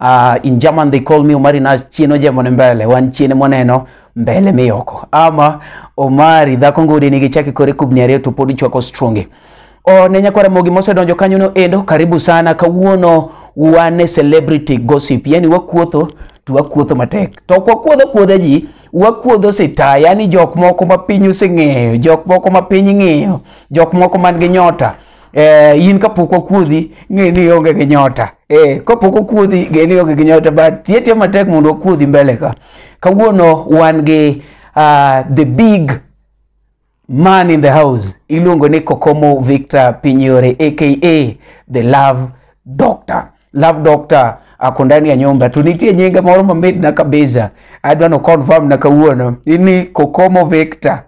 Uh, in German they call me Omari na chieno jemone mbele wan chiene moneno mbele miyoko ama Omari dhako ngudi nigi chake kore kubni ariyo to pod ichwako stronge o ne nyakwara mogi mosedonjo kanyo no endo karibu sana kawuono wane celebrity gossip yani wakuotho to wakuotho matek to ok wakuodho kuodha ji wakuodho sita yani jok moko ma piny oseng'eyo jok moko ma piny ng'iyo jok moko man gi nyota eh, in kapok wakuodhi ng'e ni ionge gi nyota eh, kapok okuodhi ng'e ni ionge gi nyota but tiyo tiyo matek mondo wakuodhi mbele ka kawuono wan gi uh, the big man in the house iluongo ni kokomo victor pinyore aka the love doctor love doctor ako ndani ya nyumba to nitie nyinge moro mamit na kabisa adwa no confirm na kawuono ni kokomo victor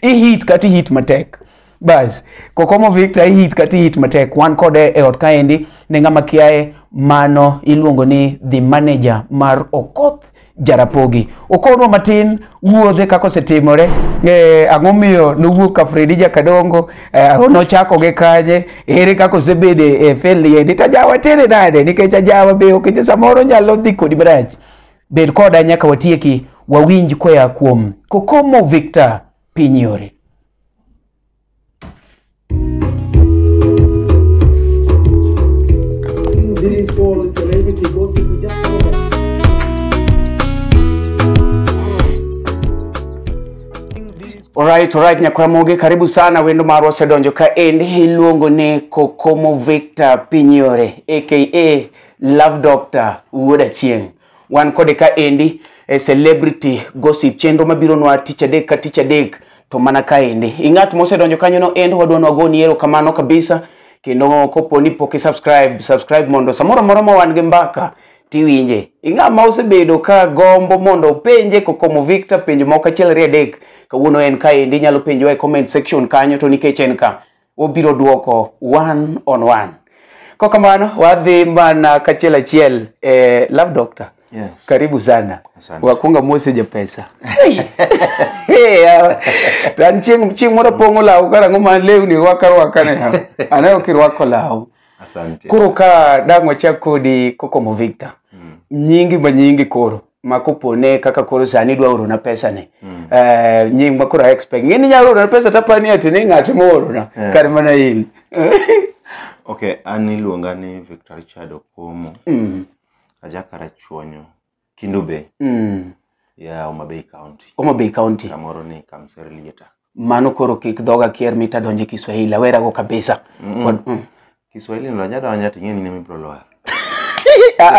i hit kati hit matek bas kokomo victor i hit kati hit matek wan kode e ot kaendi ne ng'ama kiaye mano iluongo ni the manager mar okoth jarapogi okonwa matin wuodhe kaka osetimore eh, ang'o miyo nowuok ka fredi jakadongo eh, nochako gi kanye ere kaka osebede e feliendi to ajawa tere nade nikech ajawa be okeche samoro nyalo dhi kodi marach Bed koda nyaka watieki, wawinj koya kuom Kokomo Victor piny yore. Alright, alright, Nyakwaramoge, karibu sana. Wendo marwa osedonjo ka endi iluongo ni Kokomo Victor Pinyore aka Love Doctor Wuod Achieng'. Wan kode ka endi e Celebrity Gossip chenro mabiro nwa tich adek ka tich adek to mana ka endi. Ing'at mosedonjo kanyo no end wadwa nwa goni ero kamano kabisa kendo kopo ni pok subscribe subscribe mondo samoro amora ma wan gi mbaka tiwinje. Ing'a ma osebedo ka gombo mondo openje kokomo Victor penjo moko achiel ariyo adek kawuono en ka endi inyalo penjowa e comment section kanyo to nikech en ka obiro duoko one on one kwa kamano wadhi mana kachiel achiel eh, love doctor Yes. karibu sana Asante. wakunga mose japesa Hey, yawa. to an chieng' chieng' moro pong'o law karang'o ma lewni rwaka rwaka ne yawa. anayo kirwako law Asante. koro ka dang' wachak kodi kokomo victor Mm. nyingi ma nyingi koro ma kopone kaka koro sani idwa orona pesane Mm. Eh, nying ma koro a expect ng'e ni nyalo orona pesa tapani ati ni ng'at moorona Eh. kar mana in okay an iluonga ni victor richard okomo Mm, ajakara chuonyo kindu bay mm. ya homa bay county Homa Bay County. kamoro ni kamserlieta mano koro kik dhoga kier mita donje kiswahili awera go kabisa Mm. Kon- mm. kiswahili no nya donja to ing'eni nimi bro loa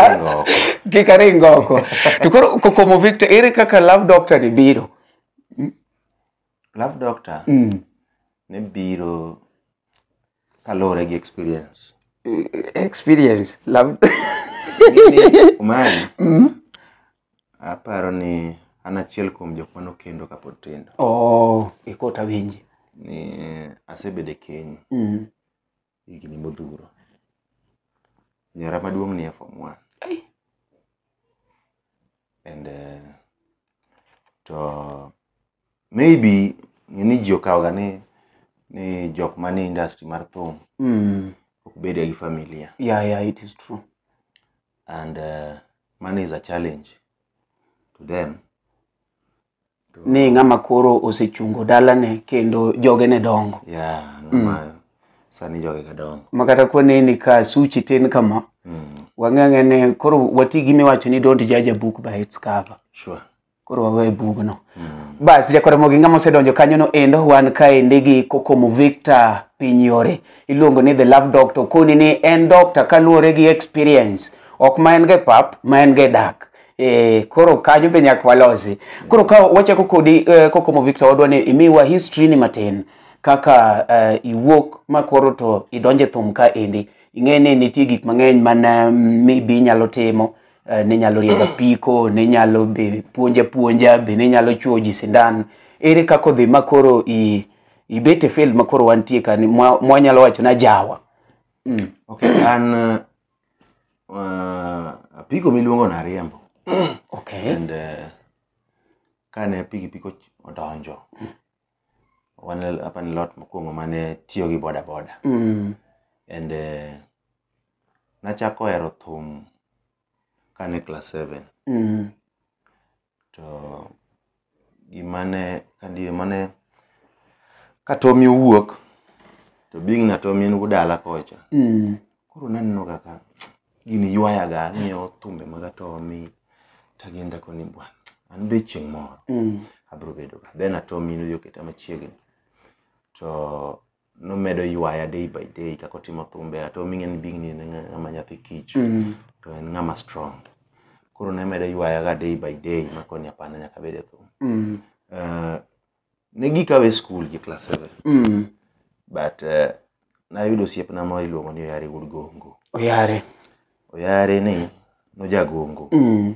Ringo oko. kik aring oko to koro ko- komo victor ere kaka love doctor ni biro love doctor mm. ne biro kaluwore gi experience experience love Mimi, umani Mm. aparo ni an achiel kuom jok mane okendo kapod tindo oh ikota winji ni asebedo e keny mm. higni modhuro nyara maduong' ni e form one Ai. and eh, to maybe ng'eni ji okawoga ni ni jok manie industry mar thum Mm. ok bedga gi familia Yeah, yeah, it is true. and uh, money is a challenge to them to, Ni ng'ama koro osechungo dalane kendo joge ne dongo. yeah ng'ama sani joge ka dongo Ma kata kone ni ka suchi tin kama, mm, wang'ang'e ne koro wati gi miwacho ni don't judge a book by its cover. sure koro wawe bugno bas jakora moginga mosedonjo kanyono endo wan kaendi gi kokomo victor piny yore iluongo ni the love doctor okoni ni en doctor kaluwore gi experience ok ma en ga e pap ma en ga e dak e, koro kanyo be nyaka walosi koro ka wachako kodi eh, kokomo victor wadwa ni imiwa history ni matin kaka eh, iwuok ma koro to idonje thum ka endi ing'e ni nitie gik mang'eny mana mibi inyalo timo eh, ne nyalo riembo apiko ne nyalo be puonja puonja be ne nyalo chuo ji sindan ere kaka odhi ma koro i ibet e field ma koro wantie ka ni mwa- mwanyalo wacho na jawa mm. okay an uh, uh, apiko miluongo na riembo okay and uh, kane pikipiki och- odonjo wan apa ni lot mokwongo mane tiyo gi boda boda Mm. and eh, nachako hero thum kane class seven Mm. to gimane kadi mane katomi owuok to being natomi en wuod dala kocha Mm. koro naneno kaka Gini ywayaga ang'iyo thumbe mag Atomi tagenda koni bwana. An be chieng' moro Mm. abiro bedo ka. Then Atomi nodhi oketa machiegni. To nomedo ywaya day by day kaka otimo thumbe. Atomi ing'e ni big ni en ng'ama nyathi kich Mm. to en ng'ama strong. Koro ne medo ywayaga day by day makoni hapana nyaka abed e thum. Mm. Eh, ne gikawe skul gi class 7 Mm. but uh, nayudo osiepna moro iluongo ni oyare wuod gongo Oyare. oyare ni nojagongo Mm.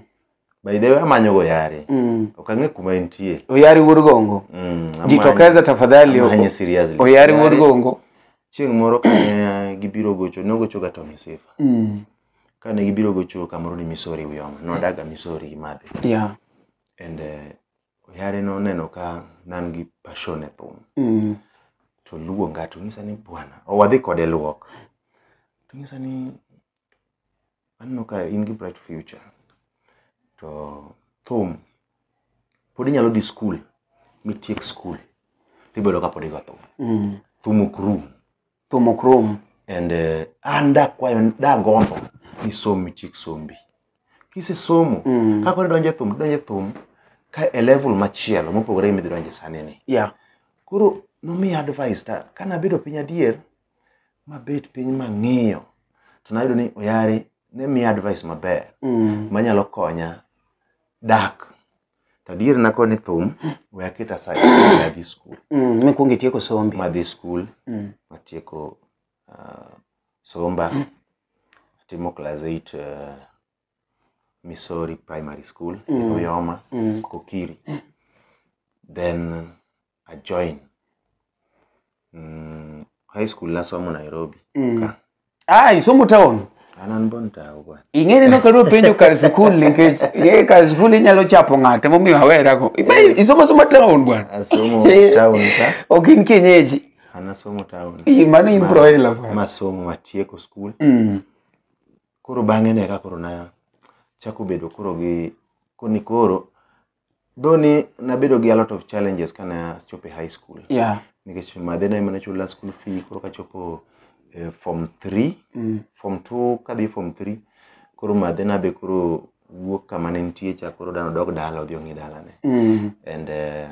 by the way amanyogo oyare Mm. ok ang'e kuma entie Oyare wuod gongo. Mm, amanye- Jitokeza tafadhali. amanye seriously. Oyare wuod Oyare, gongo. chieng' moro kane gibiro gocho nogochoga to misifa Mm. kane gibiro gocho kamoro ni misori uyoma nodaga misori gi madhe Yeah. and uh, oyare noneno ka nan gi passion e thum Mm. to luonga to nyisa ni bwana o wadhi kode luok to nyisa ni aneno ka in gi bright future to thum pod inyalo dhi skul mitiek skul tibedo ka pod igo thum Mm. thum ok rum thum ok rom and eh, an dakwayo dagombo ni som itiek sombi kisesomo Mm. kaka idonje thum idonje thum ka e level machielo mopogore gi midhi donje sani ni yeah koro nomiya advice ta ka nabedo piny adier mabet piny mang'iyo to nayudo ni oyare ne miya advice maber mm. manyalo konya dak to adier nako ni thum we aket aside ma adhi skul Mm, mikwongo itieko sombi ma adhi skul Mm. matieko uh, somba atimo class 8 uh, missouri primary school Mm. oyoma Mm. kokiri then ajoin mm, high school nasomo nairobi Mm. Ka. Ah, isomo town. an an bon tawo bwana Ing'eni no kado penjo kar skul nikech ye kar skul inyalo chapo ng'ate momiyo awera go. Ibe isomo somo town bwana. asomo town ka Ok in kienyeji. an asomo town Ii, Mano in Ma- broila bwana. masomo matieko skul Mm. koro bang'e ne ka koro na chako bedo koro gi koni koro Though ni nabedo gi a lot of challenges kane achopo e high school yeah nikech madhe na ema nachula school fee koro kachopo eh, form 3 mm. form 2 kadhi form 3 koro madhe na be koro wuok kama ne nitie cha koro dano dok dala odhi ong'i dalane Mm. and eh,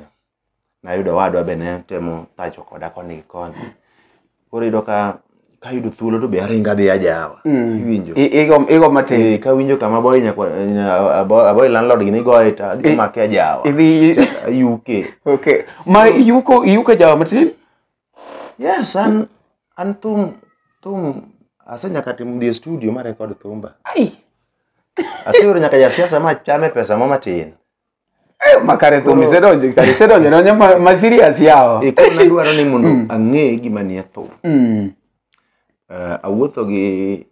nayudo owadwa be ne temo pacho koda koni gi koni koro iyudo ka kayudo thuolo to be aringa dhi ajawa Mm. iwinjo I- igo- igo matin Eh, kawinjo kama boy nyakwa nya- abo- aboy landlord gi nigoye to adhi I- make ajawa idhi yuke okay ma yuko yuko jawa matin yes an an thum thum ase nyaka timo dhi e studio ma record thumba ai aseyudo nyaka jasiasa ma chame pesa mo matin Eh, makare thum isedonje kare isedonje donje ma- ma serious yawa e koro nadwaro ni mondo Mm. ang'e gima nie thum Mm, Eh, awuotho gi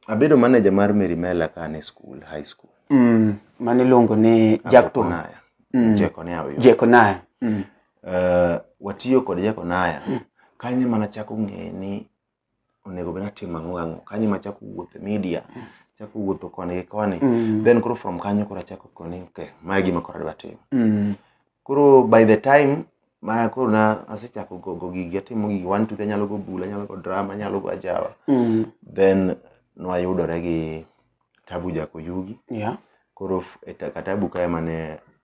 abedo manager mar Mary Mela ka an e school high school mm, mane iluongo ni jack to Akokonaya. Mm. Jekonaya oyo. jekonaya Mm, Eh, watiyo kod Jekonaya kanye mana chako ng'e ni onego bed natimo ang'o gang'o kanyo ema achako wuotho e media achako wuotho koni gi koni Mm. then koro from kanyo koro achako koni okay ma e gima koro adwa timo Mm. koro by the time ma koro na asechako go, go gigi atimo gigi one two three, anyalo go bul anyalo go drama anyalo go ajawa Mm. then nwayudore gi tabu jakoyugi Yeah. koro f- e ta- katabu kae mane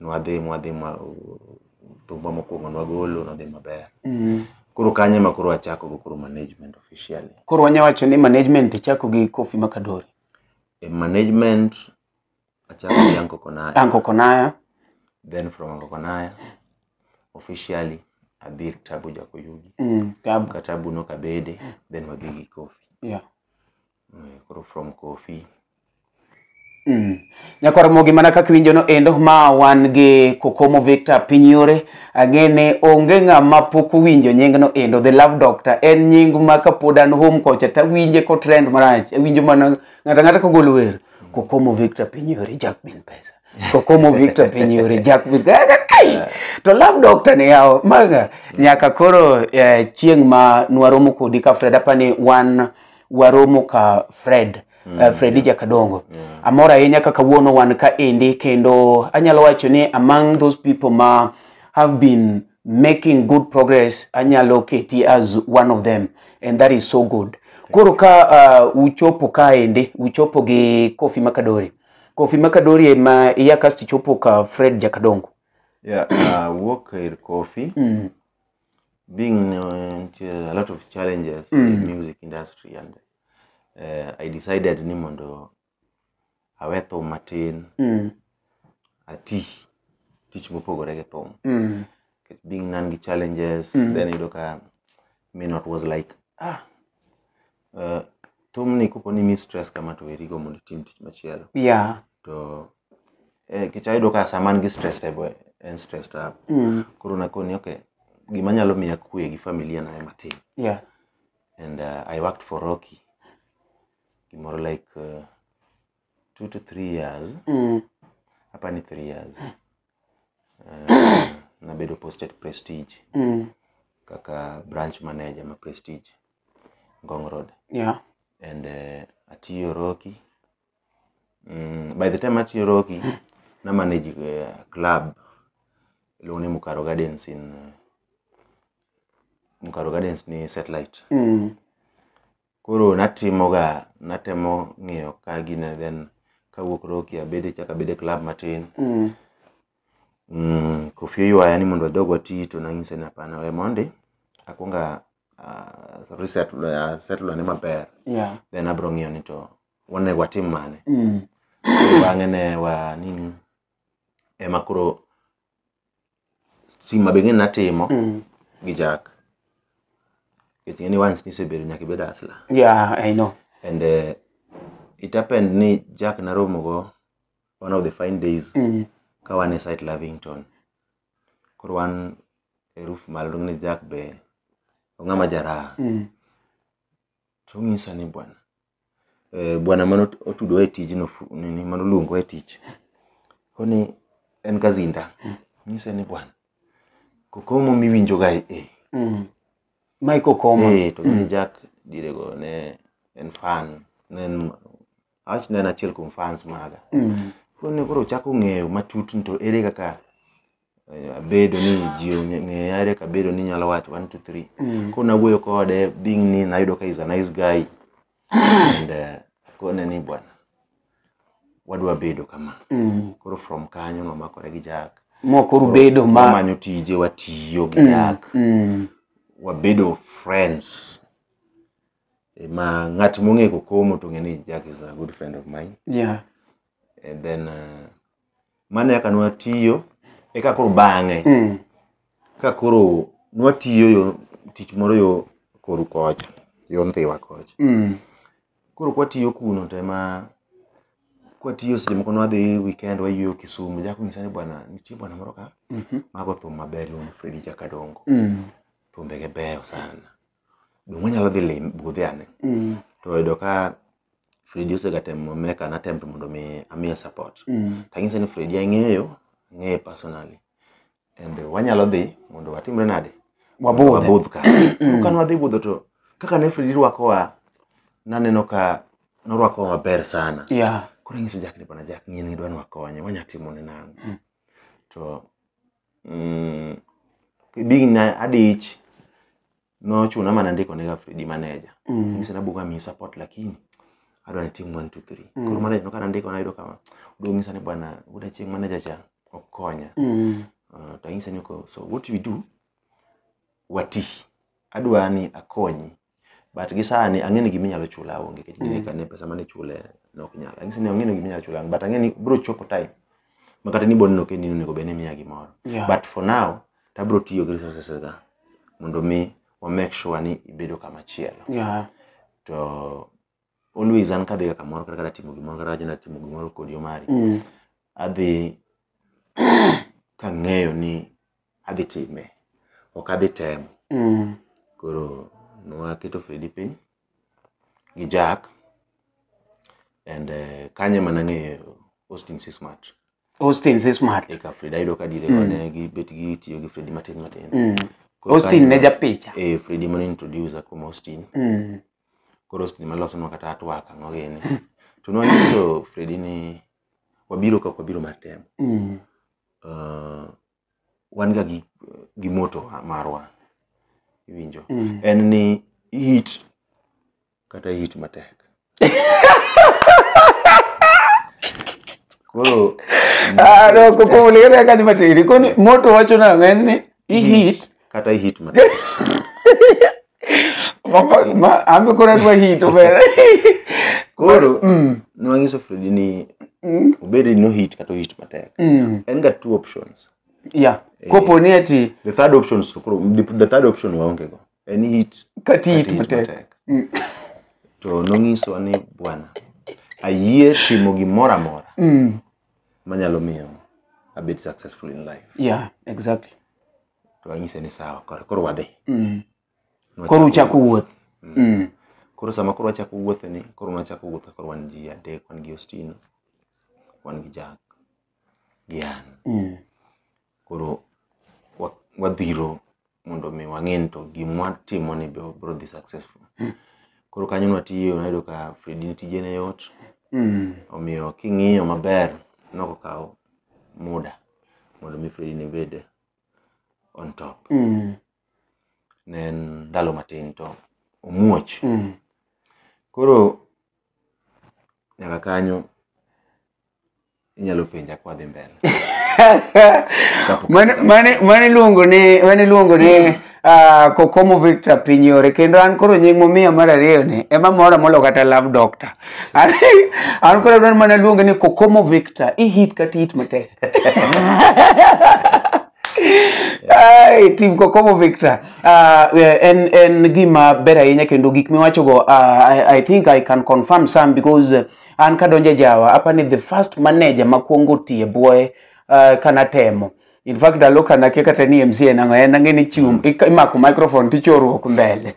nwadhi mwadhi ma thumba mokwongo nwagolo nodhi maber Mm. koro kanyo ema koro achako go koro management officially koro wanya wacho ni management ichako gi kofi makadori e management achako gi Anko Konaya anko konaya then from Anko Konaya officially adhi Tabu Jakoyugi mm. tabu ka Tabu nokabede then wadhi gi Kofi yeah. koro from kofi Mm. Nyakwar Mogi mana kaka iwinjono endo ma wan gi Kokomo Victor piny yore ang'e ni onge ng'ama pok owinjo nyingno endo the love doctor en nying ma kapod an home kocha tawinje ko trend marach awinjo mana ng'ata ng'ata kogolo wer Kokomo Victor piny yore Jack bin pesa Kokomo Victor piny yore Jack bin Ai! to love doctor ni yawo maga nyaka koro eh, chieng' ma nwaromo kodi ka Fred apani wan waromo ka fred mm, uh, fredi yeah. jakadongo yeah. amor ahinya kaka wuono wan ka endi kendo anyalo wacho ni among those people ma have been making good progress anyalo keti as one of them and that is so good koro ka uh, uchopo ka endi uchopo gi kofi makadori kofi makadori ema iya kasto ichopo ka fred jakadongo yeah, uh, wuok ir kofi mm. being uh, into a lot of challenges Mm. in music industry and uh, i decided ni mondo awe thum matin Mm. ati tich mopogore gi thum Mm. Nikech being nan gi challenges Mm. then iyudo ka may not was like ah Eh, thumni kopo ni mi stress kama to werigo mondo itim tich machielo yeah to eh, kech ayudo ka sama an gi stress to ebo- en stress to up mm. koro nakoni okay gima nyalo miya kwe gi familia na ema tim yeah and uh, I worked for Rocky gimoro like uh, two to three years mm. hapa ni three years uh, nabedo posted prestige mm. kaka branch manager ma prestige Ngong Road. Yeah. And uh, atiyo Roki. Mm, by the time atiyo Roki, na manage uh, club iluongo ni Mukaro Gardens in uh, Mukaro Gardens ni satellite. Mm. Koro natimoga natemo ng'iyo ka gine then kawuok Roki abede chaka abede club matin. Mm. Mm, Kofi oywaya ni mondo wadog wati to nanyise ni hapana we mondi akwonga uh, reset uh, settle ane maber yeah then abro ng'iyo ni to onego watim mane mm. Koro bang'e ne wa nini ema koro stima beng'e natimo Mm. gi jack nikech ng'eni once nisebedo nyaka ibed asla yeah i know and uh, it happened ni jack naromogo one of the fine days mm. ka wan e site lavington koro wan e roof malo to ng'e Jack be ong'ama jaraha Mm. to onyisa ni bwana eh, bwana mane ot- otudowa e tijno fu- nini mane oluongowa e tich koni en kazinda onyisa ni bwana kokomo miwinjoga e e Mm. Mike Okoma. Eh, to Mm. ni Jack dirego ne en fan ne en awach ne en achiel kuom fans maga Mm. koro ne koro chako ng'eyo matut ni to ere kaka eh, abedo ni ji ong'e- ng'eya ere kaka abedo ni nyalo wacho one two three Mm. koro nawuoyo kode being ni nayudo ka is a nice guy and eh, akone ni bwana wadwa bedo kama Mm. koro from kanyo nomakore gi jak moko rubedo ma wamanyo tije watiyo gi Mm. jak Mm. wabedo friends Eh, ma ng'at mong'e kokomo to ng'e ni Jack is a good friend of mine Yeah. and then uh, mano eka nwatiyo eka koro bang'e Mm. ka koro nwatiyo yo tich moro yo koru kocha yo ndhiwa kocha Mm. koro kwatiyo kuno to ema kwatiyo seche moko nwadhi weekend wayweyo Kisumu Jack onyisa ni bwana nitie bwana moro ka Mhm. mago thum maber iluongo ni Fredi Jakadongo Mm. thumbege beyo sana Donge wanyalo dhi lime budhe ane? Mm. To oyudo ka Fredi osegatemo make an attempt mondo mi amiye support. Mm. Tanyise ni Fredi ang'eyo, ang'eye personally. And wanyalo dhi mondo watimre nade? Wabudhe. Wabudh ka. Mm. Ka nwadhi budho to kaka ne Fredi rwakowa naneno ka norwakowa maber sana. Yeah. Koro anyiso Jack ni bwana Jack ng'e ni idwa ni wakonye, wanya timone nang'o? Mm. To mm, digna adich nochuna mana ndiko nega Fredi manager Mm. mise nabugo amiyi support lakini adwa ni tim 1 2 3 Mm. koro manager nokana ndiko nayudo kama oduogo ng'isa ni bwana buda chieng' manager cha ok konya Mm. uh, to anyise ni ko so what we do wati adwa ni akonyi but gi sani ang'e ni gima inyalo chula onge nikech mm. kane pesa mane chule nok nyal ang'e ni ang'e ni gima inyalo chula but ang'e ni bro chopo time ma kata ni bond no kendi onego bed ni miya gimoro yeah. but for now to abro tiyo gi resources ga mondo mi wa make sure ni ibedo kama chielo yeah. to always an kadhiga kamoro kata katimo gimoro kata wacho natimo gimoro kod yomari Mm. adhi kang'eyo ni adhi time ok adhi temo Mm. koro nwaketo fredi piny gi jack and uh, kanye mana ng'eyo austin si smart Austin si smart. eka fredi ayudo ka dire Mm. kone gibet gitiyo gi fredi matin matin Mm. Koro Austin kanye- ne japicha. eh, fredi mane introduce kuom austin Mm. koro seche ma losonwa kata twak ang'o gini to nwanyiso Fredi ni wabiro kaka wabiro mar temo Mm. uh, wan ga gi, gi moto wa- marwa iwinjo Mm. en ni hit kata hit matek koro Ah, no, koko uliga kaka matiri. Koni moto wacho na ng'en ni i hit kata i hit ma Mama- ma- ambe koro adwa hit obere koro Mm, nwanyiso fredi ni mm, obed ni no hit kata ohit matek mm. en ga two options yeah kopo ni ati the third option so koro the, the third option waonge go en hit kati hit kata hit matek matek Mm. to nonyisowa ni bwana ayie timo gimoro amora Mm, manyalo miyo abed successful in life yeah exactly to anyise ni sawa koro koro wadhi mm. Nwachako koro uchako wuoth Mm. mm. koro sama koro wachako wuothe ni koro nwachako wuothe koro wan ji adek wan gi ostino wan gi jack gi an mm. koro wa- wadhiro mondo mi wang'e ni to gimwa timo ni be wabro dhi successful Mm. koro kanyo nwatiyo nayudo ka fredi ne tije ne yot Mm. omiyo king'iyo maber nokokawo muda mondo mi fredi ne bed on top Mm. ne en ndalo matin to omuoch Mm. koro nyaka kanyo inyalo penja kwa dhi mbele Mane- mane- mane iluongo ni mane iluongo ni ah, kokomo victor pinyore kendo an koro nying momiya mar ariyo ni ema mora molo kata love doctor an an koro adwaro mana luonge ni kokomo victor ihit kata ihit matek Ai, tim kokomo victor Ah, eh, en en gima ber ahinya kendo gik miwachogo ah, I, i think i can confirm some because eh, an kadonje jawa apa ni the first manager makwongo tiye bwoye uh, kana temo in fact ndalo ka nakia kata ni mc en ang'o en ang'e ni chiwo ik- imako microphone tichorruok mbele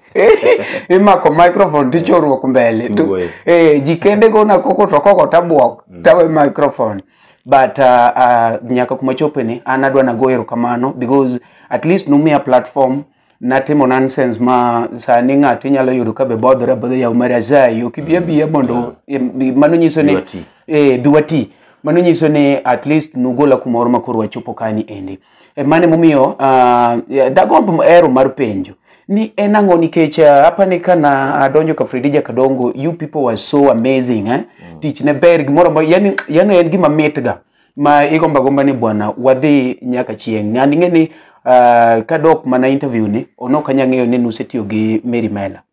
imako microphone tichorruok mbele Tu- Tiwuoyo. eh, ji kende gona koko to koko tabwok tawe microphone but uh, uh, nyaka kuma chopeni an adwa nago erokamano because at least numiya platform natimo nonsense ma sani ng'ato inyalo yudo ka be bodhore abodha yaw mar azayi ok ibi abiya mondo em, bi- mano nyiso ni Biwa ti. eh, biwa ti mano nyiso ni at least nugola kumoro ma koro wachopo kani endi e, mane momiyo ah, ya, dagomb ero mar penjo ni en ang'o nikech ah, apa ni kana adonjo ka Fredija Kadongo you people were so amazing eh? tich ne ber gimoro amora yani, yani en gima mitga ma igomba gomba ni bwana wadhi nyaka chieng' ng'ani ng'e ni uh, kadok mana interview ni onok anya ng'eyo ni nusetiyo gi Mary Mela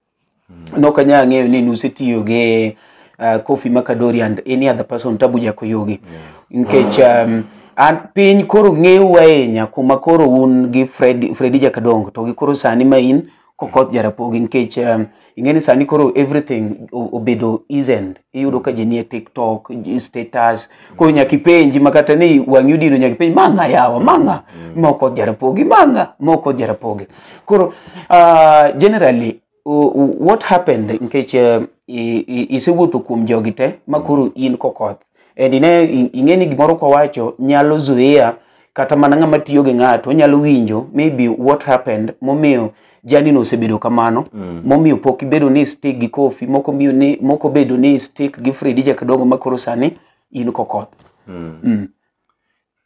mm. nok anya ng'eyo ni nusetiyo gi uh, Kofi Makadori and any other person Tabu Jakoyogi yeah. nkech um, an piny koro ng'eu ahinya kuma koro un gi Fred, Fredi Jakadongo to gi koro sani ma in kokoth jarapogi nikech um, ing'eni sani koro everything o- obedo easend iyudo ka ji nie tiktok ji- status koro nyaka ipenji ma kata ni wang'i odino nyaka ipenji mang'a yawa mang'a ma okoth jarapogi mang'a ma okoth jarapogi koro uh, generally u- u- what happened nikech um, i- i- isewuotho kuom jogi te ma koro in kokoth and ine ing'eni gimoro kwawacho nyalo zuia kata mana ng'ama tiyo gi ng'ato onyalo winjo maybe what happened momiyo janino osebedo kamano Mm. momiyo pok ibedo ni stick gi kofi moko miyo ni moko bedo ni stick gi fredi jakadongo ma koro sani in kokoth Mm. mm.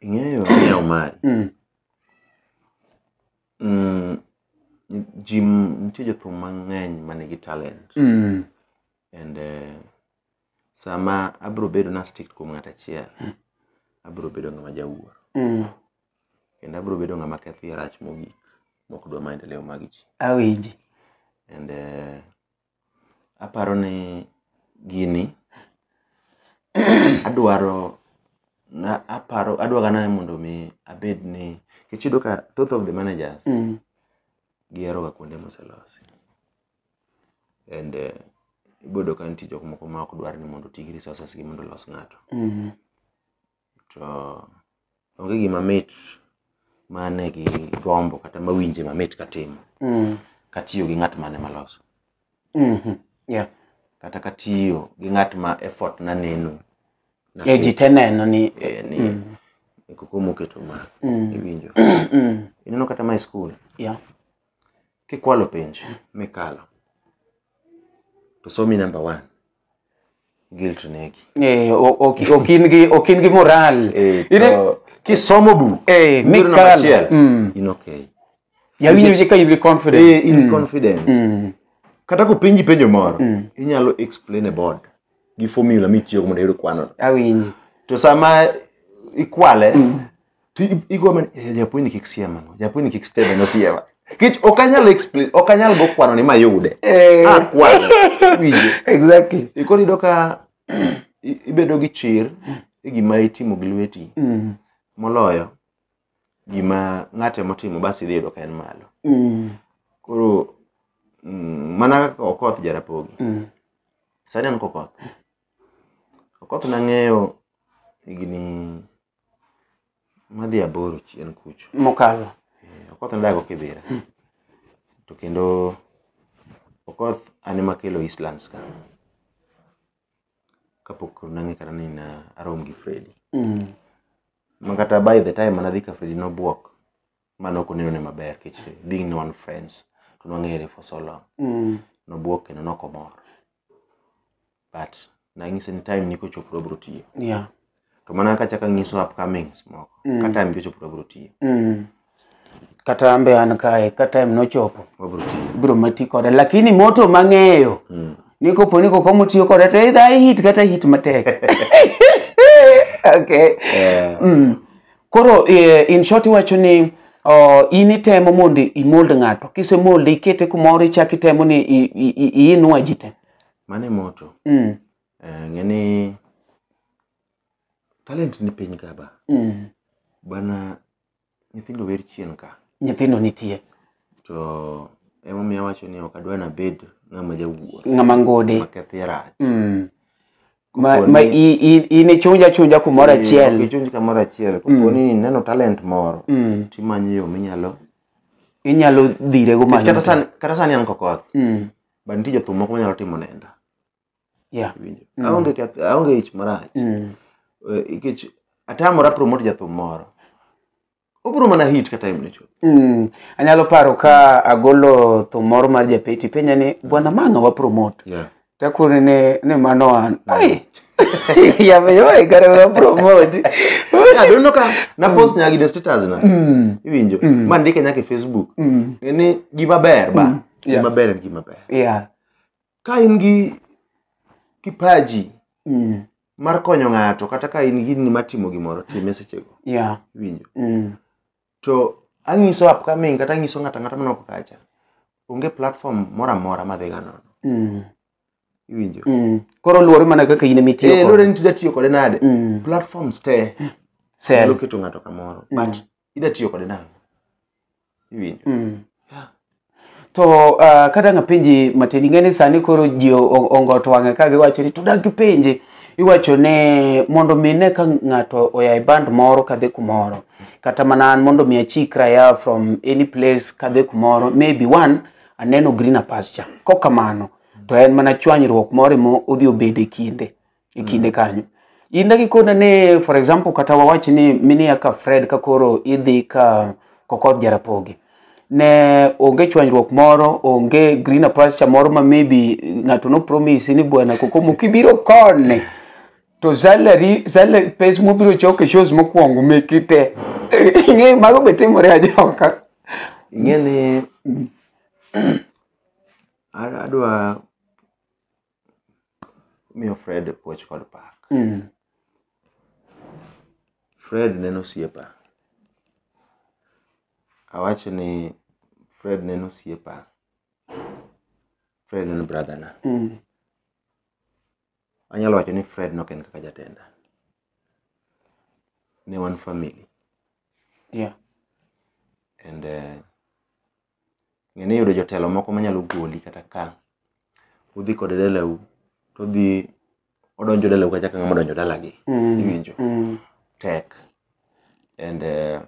ing'eyo ni omari mm. mm, ji m- nitie jothum mang'eny ma nigi talent mm. and eh, sama abro bedo na strict kuom ng'at achiel abro bedo ng'ama jawuoro Mm. kendo abro bedo ng'ama ketho e rach mogik mok dwa maendeleo mag ji Awinji. and eh, aparo ni gini adwaro na aparo adwaga na mondo mi abed ni kech iyudo ka thoth of the managers Mm. giheroga kuonde moselosi and eh, iboyudo ka nitie jok moko ma ok dwar ni mondo oti gi resources gi mondo olos ng'ato Mhm. to onge gima mit mane gi gombo kata mawinje mamit katimo Mhm. katiyo gi ng'at mane maloso Mhm. Yeah. kata katiyo gi ng'at ma effort na neno na Eh, ji te neno ni eh, ni Mhm. koko moketo ma Mhm. iwinjo Mhm. ineno kata ma e skul Yeah. Kikwalo penj mikalo to somi number one, guilt negi. Eh, o- ok ok in gi ok in gi moral. Eh, Ine- to kisomo buk Eh, yudo number mikalo. achiel, Mm. in okay. Yawinjo je ka in gi confidence. Eh, in Mm. confidence. Mm. Kata kopenji penjo moro, Mm. inyalo explain a board gi formula mitiyogo mondo iyud kwano. Awinji. To sama ikwale, to i- igo mana "Eh, japuonj ni kik siema no japuonj ni kik stebe no siema kech ok anyal explain ok anyal go kwano ni mayude Eh, ah kwano winjo exactly e koro iyudo ka i- ibedo gi chir e gima itimo gi lweti Mm, moloyo gima ng'ate motimo bas idhi yudo ka en malo mm, koro mm, mana kaka okoth jarapogi mm, sani an kokoth okoth nang'eyo higni madhi aboro chien kucho mokalo Eh, okoth ndago kibira to kendo okoth an ema kelo eastlands ka kapok nang'e kata ni na arom gi fredi Mm. ma kata by the time manadhi ka fredi nobwok ma nok oneno ne maber kech being ni wan friends to nwang'ere for so long Mm. nobwok kendo nokomor but nang'ise ni time ni kochopo to abiro tiyo Yeah. to mana kaka achako anyiso upcomings moko Mm. ka time ni ochopo to abiro tiyo Mm. Kata ambe an kae, ka time nochopo, wabiro tiyo biro mati kode. Lakini moto mang'eyo, Mm. ni kopo ni koko mutiyo kode, to either i hit kata hit matek. okay. Eh, Mm. Koro eh, in short iwacho ni oh, in itemo mondo imold ng'ato kisemold ikete kumoro ichak itemo ni i- i- i- iinua ji te Mano e moto. Mm. Eh, ng'e ni talent ni piny ka ba. Mm. Bana nyithindo wer chien ka. Nyithindo nitie. To emomiyo awacho ni ok adwa nabed ng'ama jawuoro. Ng'ama ngode. Makethi rach. Mm. Ma, Koponi- ma i- i- in ichunj achunja kumoro Eh, ok achiel. ichunj kamoro achiel. Koponi ineno talent moro, Mm. timanyo yo minyalo. Inyalo dhirego Nikech Kata malo. sani, kata sani an kokoth. Mm. but nitie jothum moko manyalo timo nenda Yeah. iwinjo Mm. aonge keth- aonge ich marach Mm. Eh, nikech atamora promote jathum moro obiro mana hit ka time ne chopo Mm. Anyalo paro ka agolo thum moro mar japeti penja ni bwana mang'a wa promote. yeah. Takuri ni ni mano an. Ai. Yameyoe kare wa promote. yeah, don't know ka na post nyagi de status na Mm. iwinjo Mm. ma ndike nyaka e facebook Mm. ni gima ber ba Yeah. gima ber en gima ber Yeah. ka in gi kipaji Mm. mar konyo ng'ato kata ka in gini mar timo gimoro time sechego Yeah. winjo Mm. to anyiso upcoming kata anyiso ng'ato ang'ata manok kacha onge platform moro amora madhi ga nono Mm. iwinjo Mm. Koro luwore mana kaka in emitiyo Eh, kode. lore ni tida tiyo kode nade Mm. platforms te Sel. nyalo keto ng'ato kamoro Mm. but ida tiyo kode nang'o iwinjo Mm. Yeah. To uh, kata nga penji matin ing'eni sani koro ji o- o- ongot wang'e ka giwacho ni to dak gipenji iwacho ni mondo mi ne ka ng'ato oya e band moro kadhi kumoro kata mana an mondo mi achikra ya from any place kadhi kumoro maybe one aneno green pasture kokamano to en mana chwanyruok moro emo odhi obede kinde e kinde kanyo in dagi kona ni for example kata wawach ni minia ka fred ka koro idhi ka kokoth jarapogi ne onge chwanyruok moro onge green pasture moro ma maybe ng'ato no promise ni bwana kokomo kibiro kone to salary salary pes mobiro choke shows mokwongo meki te ing'e mago be timore ajoka ing'e ni a- adwa miyo fred puoch kod pak Mm. fred neno osiepa awacho ni fred neno osiepa fred neno brother na Mm. anyalo wacho ni fred nok en kaka jatenda ne wan family Yeah. and uh, ng'eni yudo jotelo moko manyalo goli kata ka udhi kode dalau todhi odonjo dalau kata ka ng'ama odonjo dalagi Mm. iwinjo Mm. tek and uh,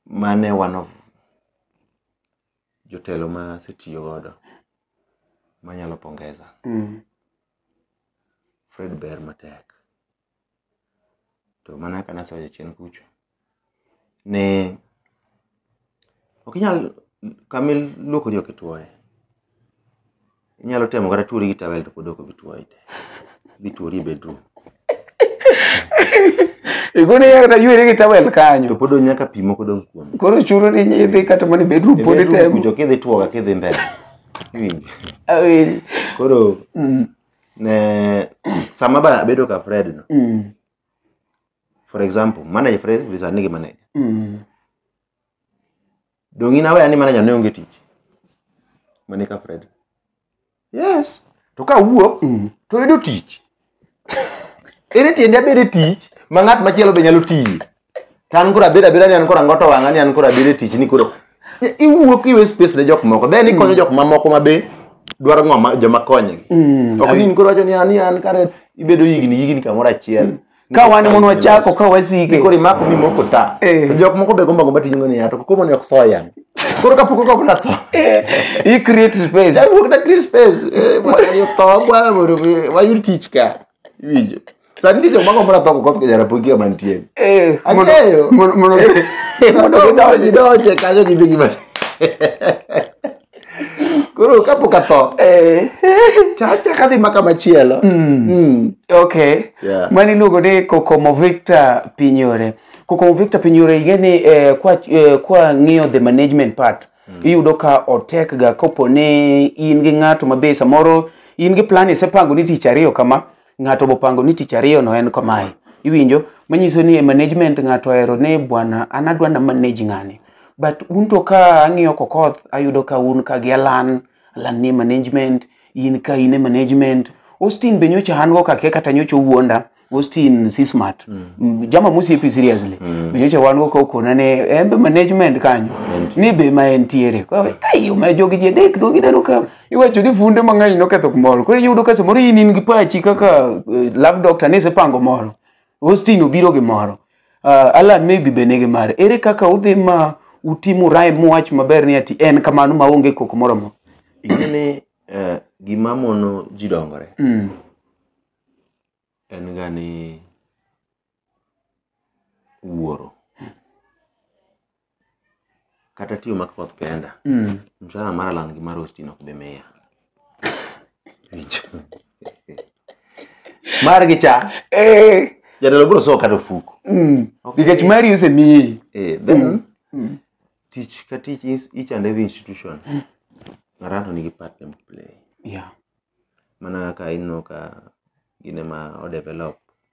mane one of jotelo ma asetiyo godo manyalo pongeza Mm. fred ber matek to mana kaka nasewacho chien kucho ni ok inyal kama iluokori ok ituoye. Inyalo temo kata tuori gi towel to pod ok obi tuoyi te. Idhi tuori e bedroom. Igone ya kata yueri gi towel To kanyo. pod odong' nyaka pi moko dong' kuome. Koro chuno ni nyidhi kata mana e bedroom E pod bedroom itemo. kucho kidhi tuo kaka idhi mbele. Iwinjo? Awinji. Koro Mm. ne sama ba abedo ka Fred no Mm. for example manager Fred visa nigi manager Mm. donge in aware ni manager ne onge tich mane ka Fred yes to ka wuok Mm. to yudo tich ere tiende abede tich ma ng'at machielo be nyalo tiye To an koro abeda abeda ni an koro ango to wang'a ni an koro abeda e tich ni koro iwuok iwe space ne jok moko then ikonyo jok mamoko ma be dwaro ng'o ma joma konygi Mm. ok ni in koro wacho ni an ni an kare ibedo higni higni kamoro achiel Ka wan mondo wachako ka wasike. koro imako mi moko ta Eh. To jok moko be gombo gombo tijno ni ato koko mani ok tho yan koro kapok ok na tho I create space. Jawuok na create space eh, mwana ni ok tho kwa mondo mi- wayud tich ka iwinjo Sani nitie joma gombo napako koth ka jarapoki kama nitie. Eh, mondo- Ang'eyo. mondo- mondo- Mondo gidonj- gidonje kanyo gidhi gima. Koro kapok atho, Eh, tachak adhi ma kama chielo. mm, Mm. okay. Yeah. mani iluongo ni kokomo victor pinyore kokomo victor pinyore ing'e ni eh, kwa eh, kwa ng'iyo the management part iyudo ka otek ga kopo ni in gi ng'ato mabe samoro in gi plan isepango ni tich ariyo kama ng'ato bopango ni tich ariyo no en kamae iwinjo manyiso ni e management ng'ato ohero ni bwana an adwa na manage ng'ani but un to ka ang'iyo kokoth ayudo ka un ka gi alan alan ni management in ka in e management austin be nyocha an go kake kata nyocha owuonda austin si smart mm. jama musiepi seriously mm. be nyocha wan go ka okona ne en be management kanyo ni be ma entiere Koro, ai ma jogi ji adek dogineno ka iwacho ni funde mang'eny noketho kumoro koro iyudo ka samoro in in gi pachi kaka eh, love doctor ne isepango moro austin obiro gi moro uh, alan maybe be nigi mare ere kaka udhi ma utimu rhyme muwach maber ni ati en kamano ma onge koko moro mo ing'e ni eh, gima mono ji dongore mm. en ga ni wuoro kata tiyo mak koth kenda Mm. mshahara mar alan gi mar ostin ok be miya Winjo. margi cha Eh. jatelo biro sowo kata ofuko Mm. Ok. Nikech mari osemiyi. Eh, then Mm. tich ka tich is- each and every institution ng'ato nigi part ne play Yeah. mana kaka ineno ka gine ma odevelop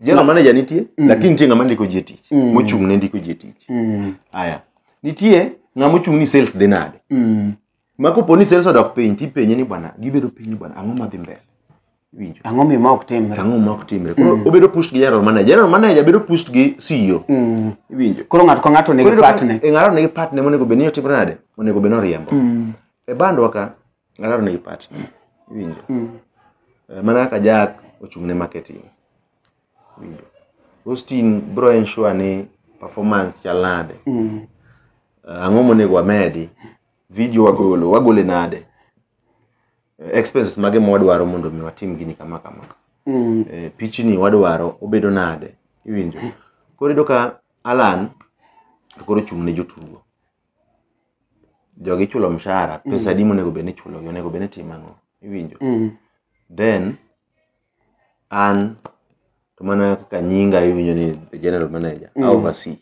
General manager nitie, Mm. lakini nitie ng'ama ndiko ji e tich, Mm. mochung' ne ndiko ji e tich. Mm. Aya. Nitie ng'ama ochung' ni sales dhi nade. Mm. Ma kopo ni sales odok piny, tipenye ni bwana, gibedo piny bwana, ang'o madhi mbele? Winjo. Ang'o mi ma ok timre? Ang'o ma ok timre? Koro Mm. obedo pushed gi general manager. General manager bedo pushed gi CEO. Mm. Iwinjo. Koro ng'ato ka ng'ato nigi Koro iyudo ka- patne. e ng'ato nigi patne monego bed ni otimre nade? Onego bed ni oriembo. Mm. E bandwa ka, Alaro negi part. Iwinjo? Mm. Eh, Mana kaka Jack ochung' ne marketing. Iwinjo? Austin bro ensure ni performance chal nade. Mm. Eh, Ang'o monego wamedi? Video wagolo, wagole nade? Eh, Expenses mage ma wadwaro mondo mi watim gini kama kama. Mm. eh, pichni wadwaro obedo nade iwinjo koro iyudo ka alan to koro ochung' ne jotugo jogi ichulo mshahara Mm. pesa adi monego bed ni ichulogi onego bed ni itimo ang'o iwinjo Mm. then an to mana kaka nyinga iwinjo ni the general manager Mm. mm. oversee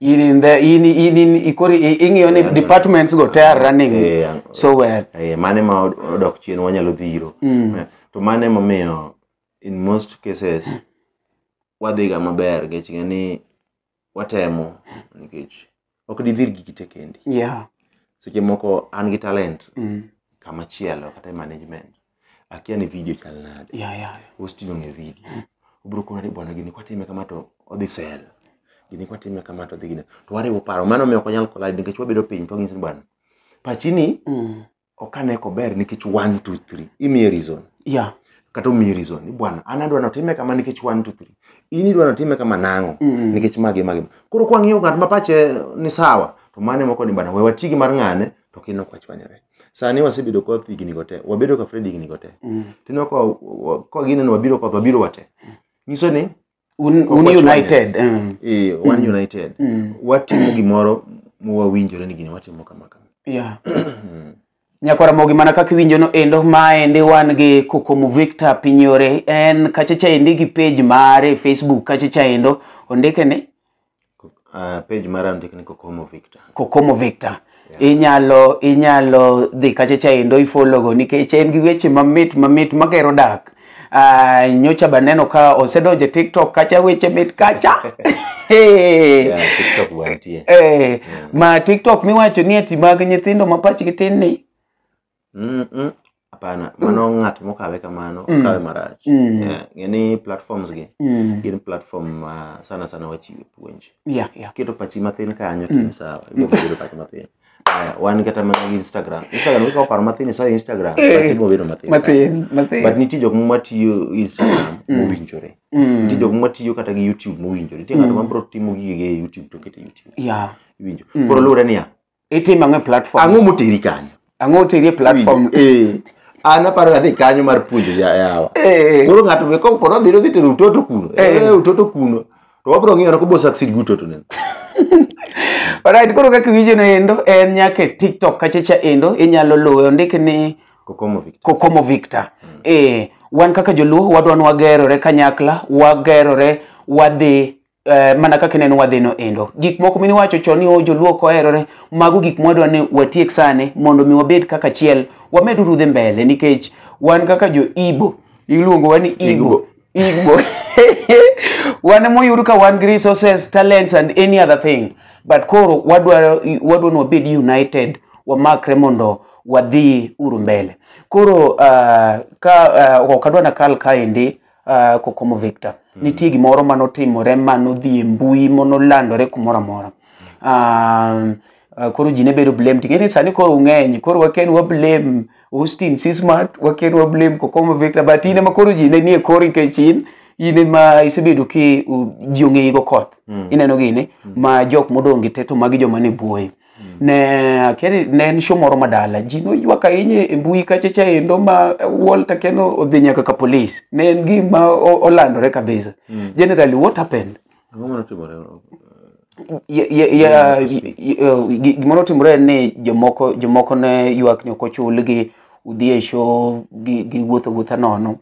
in in the in in in ikori i- ing'iyo ni Yeah. departments go te are running Eh, ang- so well eh, mane ma od- odok chien wanyalo dhiro Mm. Eh, to mane momiyo in most cases wadhiga maber nikech ng'e ni watemo nikech ok didhir gi kite kendi yeah seche moko an gi talent mm. kama chielo kata e management akia ni video chal nade yeah yeah ositino ng'e video obiro kona ni bwana gini kwatime kama to odhi sel gini kwatime kama to odhi gine to wariwo paro mano miyo ok wanyal collide nikech wabedo piny to wang'iso ni bwana pachini mm. ok ane kober nikech one two three imiye reason yeah kata omiyi reason ni bwana an adwa notime kama nikech one two three in idwa notime kama nang'o Mm. nikech magi magi koro kwang'iyo ng'at ma pache ni sawa to mane moko ni bana we wati gi mar ng'ane to kino ok wachwanyore sani wasebedo koth higni go te wabedo ka Fred higni go te Mm. tineno ka ka gineno wabiro koth wabiro wate nyiso ni un, un Wachwanyore. united mm. e wan united Mm. watimo gimoro mwawinjore ni gini watimo kama kama yeah. Mm. nyakwara mogi mana kaka iwinjo no endo maendi wan gi kokomo victor pinyore en kachacha endi gi page mare e facebook kachacha endo ondike ni Ah, page mara ondik ni Kokomo Victor. Kokomo Victor. Inyalo inyalo dhi kacha cha endo ifologo nikech en gi weche mamit mamit magero dak. Ah, nyocha baneno ka osedonje TikTok kacha weche mit kacha. Hey. Yeah, TikTok wantie. Eh, ma TikTok miwacho ni ati mag nyithindo ma pachgi tin ni. Mm, mm. hapana mano ng'at mokawe kamano Mm. okawe marach Mm. Eh, ng'e ni platforms gi Mm. gin platform ma sana sana wachiwe puonj Yeah, yeah. keto pachi mathin kanyo to Mm. in sawa ibiro bedo pachi mathin Aya, wan kata mana gi instagram instagram ikawo paro mathin isayo instagram Eh. pachi ibiro bedo mathin kanyo. Mathin, mathin. but nitie jok matiyo instagram Mm. mowinjore Mm. nitie jok matiyo kata gi youtube mowinjore nitie ng'ato Mm. mabiro timo gige e youtube to kete youtube Yeah. iwinjo Mm. koro luwre niya itimo ang'o e platform ang'o moteri kanyo ang'o oteri e platform eh an aparo ni adhi kanyo mar puonjo ya- yawa Eh. koro ng'ato be kopo nodhi nodhi tero utoto kuno Eh. Eh, utoto kuno to wabro ng'iyo kobo succeed gi utoto neno Alright, koro kaka iwinjo no endo en nyaka e TikTok kachacha endo inyalo luwe ondik ni kokomo Victor Kokomo Victor. Eh, wan kaka joluo wadwa ni wagerore kanyakla, wagerore wadhi eh, mana kaka neno wadhino endo gik moko mine wacho chon ni o joluo koherore mago gik mwadwa ni watiek sane mondo mi wabed kaka chiel wamed urudhe mbele nikech wan kaka jo ibo iluongowa ni ibo Igbo. wan moyud ka wan gi resources, talents and any other thing. But koro wadwaro wadwa ni wabed united, wamakre mondo wadhi uru mbele. Koro uh, ka uh, ok adwa nakal kaendi uh, Kokomo Victor. Mm. Nitie gimoro ma notimore ma nodhi e mbui ma nolandore kumoro amora. Um, uh, koro ji ne bedo blamed. Ing'e ni sani koro ung'eny, koro waken wa blame Austin Sismat, waken wa blame Kokomo Victor, but in ema koro ji ne nie kori nikech in in ema isebedo ki u- ji ong'eyi go koth. Mm. Ineno gini ma jok modong' gi te to magi joma ne buoye. ne keri ne en show moro madala ji noywak ahinya e mbui kacha cha endo ma Walter Keno odhi nyaka ka police ne en gima o- olandore kabisa Mm. generally what happened Ang'o mane otimore? Ye- ye- ya- ye- ye- gi- gimoro otimore en ni jomoko jomoko ne ywak ni ok ochulgi udhi e show gi- giwuotho wuotha nono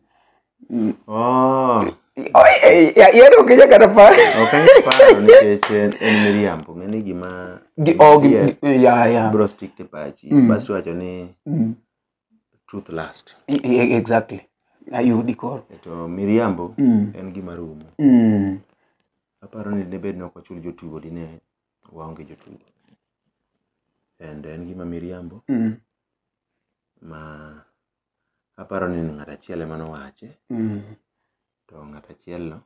Mm. Oh, Oye, eh, ya- yari ok inyal kata par. ok anyal paro nikech en en miriambo ng'e ni gima Gi- oh, gi- Yes. gi- eh, ya, ya. bro stick to pachi Mm. bas iwacho ni Mm. truth last E- e- Exactly. Ayudi koro. to miriambo Mm. en gima rumo Mm. aparo ni debed ni ok wachul jotugo dine waonge jotugo and en gima miriambo Mm. ma Aparo ni ng'at achiel ema nowache, Mm. to ng'at achielno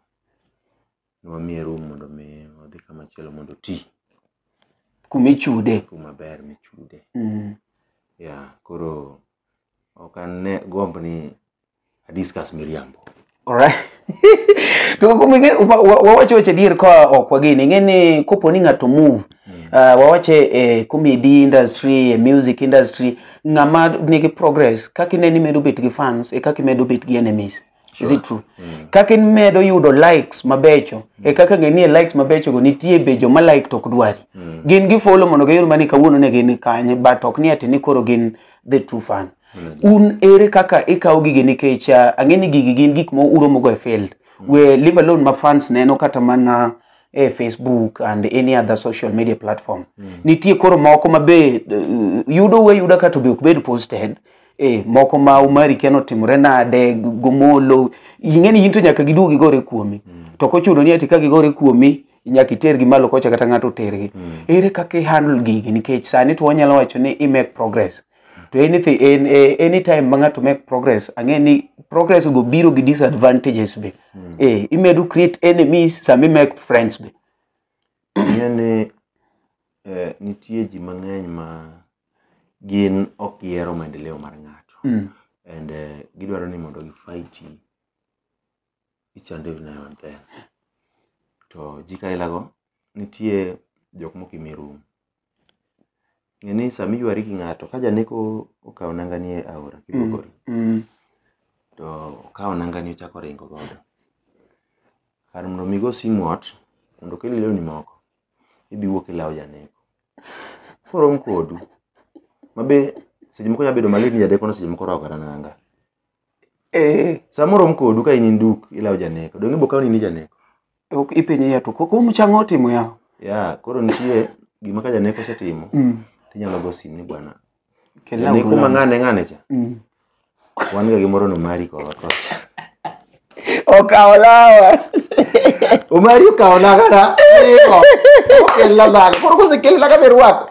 nwamiye room mondo mi odhi kama chielo mondo oti Kuma ichude. kuma ber michude. Mm. Yeah, koro ok ane gomb ni a discuss miriambo. Alright. to kuom ing'e wa- wa- wawacho weche adier ka ok wageni ing'e ni kopo ni ng'ato move uh, wawache e comedy industry e music industry ng'ama nigi progress kaka ineno imedo bet gi fans e kaka imedo bet gi enemies is it true kaka imedo yudo likes mabecho e kaka ng'e ni e likes mabecho go nitie be joma like to ok dwari gin gifolo mondo giyud mani kawuono ne gin kanye but ok ni ati ni koro gin the true fan un ere kaka ikawo gigi nikech ah, ang'e ni gigi gin gik ma uromogo e field we leave alone ma fans neno kata mana e facebook and any other social media platform nitie koro moko ma be eh, yudo we yuda kato be ok bed posted eh, moko ma umari kia notimore nade g- gomolo ing'e ni in to nyaka giduog gigore kuomi to kochuno ni ati ka gigore kuomi nyaka itergi malo kocha kata ng'ato otergi ere kaka ihandle gigi nikech sani to wanyalo wacho ni i make progress to anything in, eh, anytime ma ng'ato make progress ang'e ni progress go biro gi disadvantages be Mm. eh, imedo create enemies sama imake friends be Ing'e ni eh, nitie ji mang'eny ma gin ok gihero maendeleo mar ng'ato mm. and eh, gidwaro ni mondo gifaiti ichando e nayo maber. To jiko aila go nitie jok mok imi rum. Ng'e ni sama iywari gi ng'ato ka janeko okaw nanga ni e aora kibogori to okaw nanga ni ochako ringo godo. Kar mondo mi igo simu ot mondo okelni lewni moko, idhi iwuok e law janeko. Korom kodu. Ma be seche moko nya bedo malit ni janeko no seche moko orwako kata nanga. Eh. Sama orom kodu ka in induk ilawo janeko. Donge ibo kawo ni ni janeko. Ok ipenye ya to koko mchang' otimo ya. Ya, koro nitie gima ka janeko osetimo, Mm. tinyalo go sim ni bwana. Kela Janeko ma ulam. ng'ane ng'ane cha. Mm. Wan ga gimoro no mari ko ko. Okawo lawa. Omari okawo na kana. Iko. Okella na. Koro kosekella ka berwako.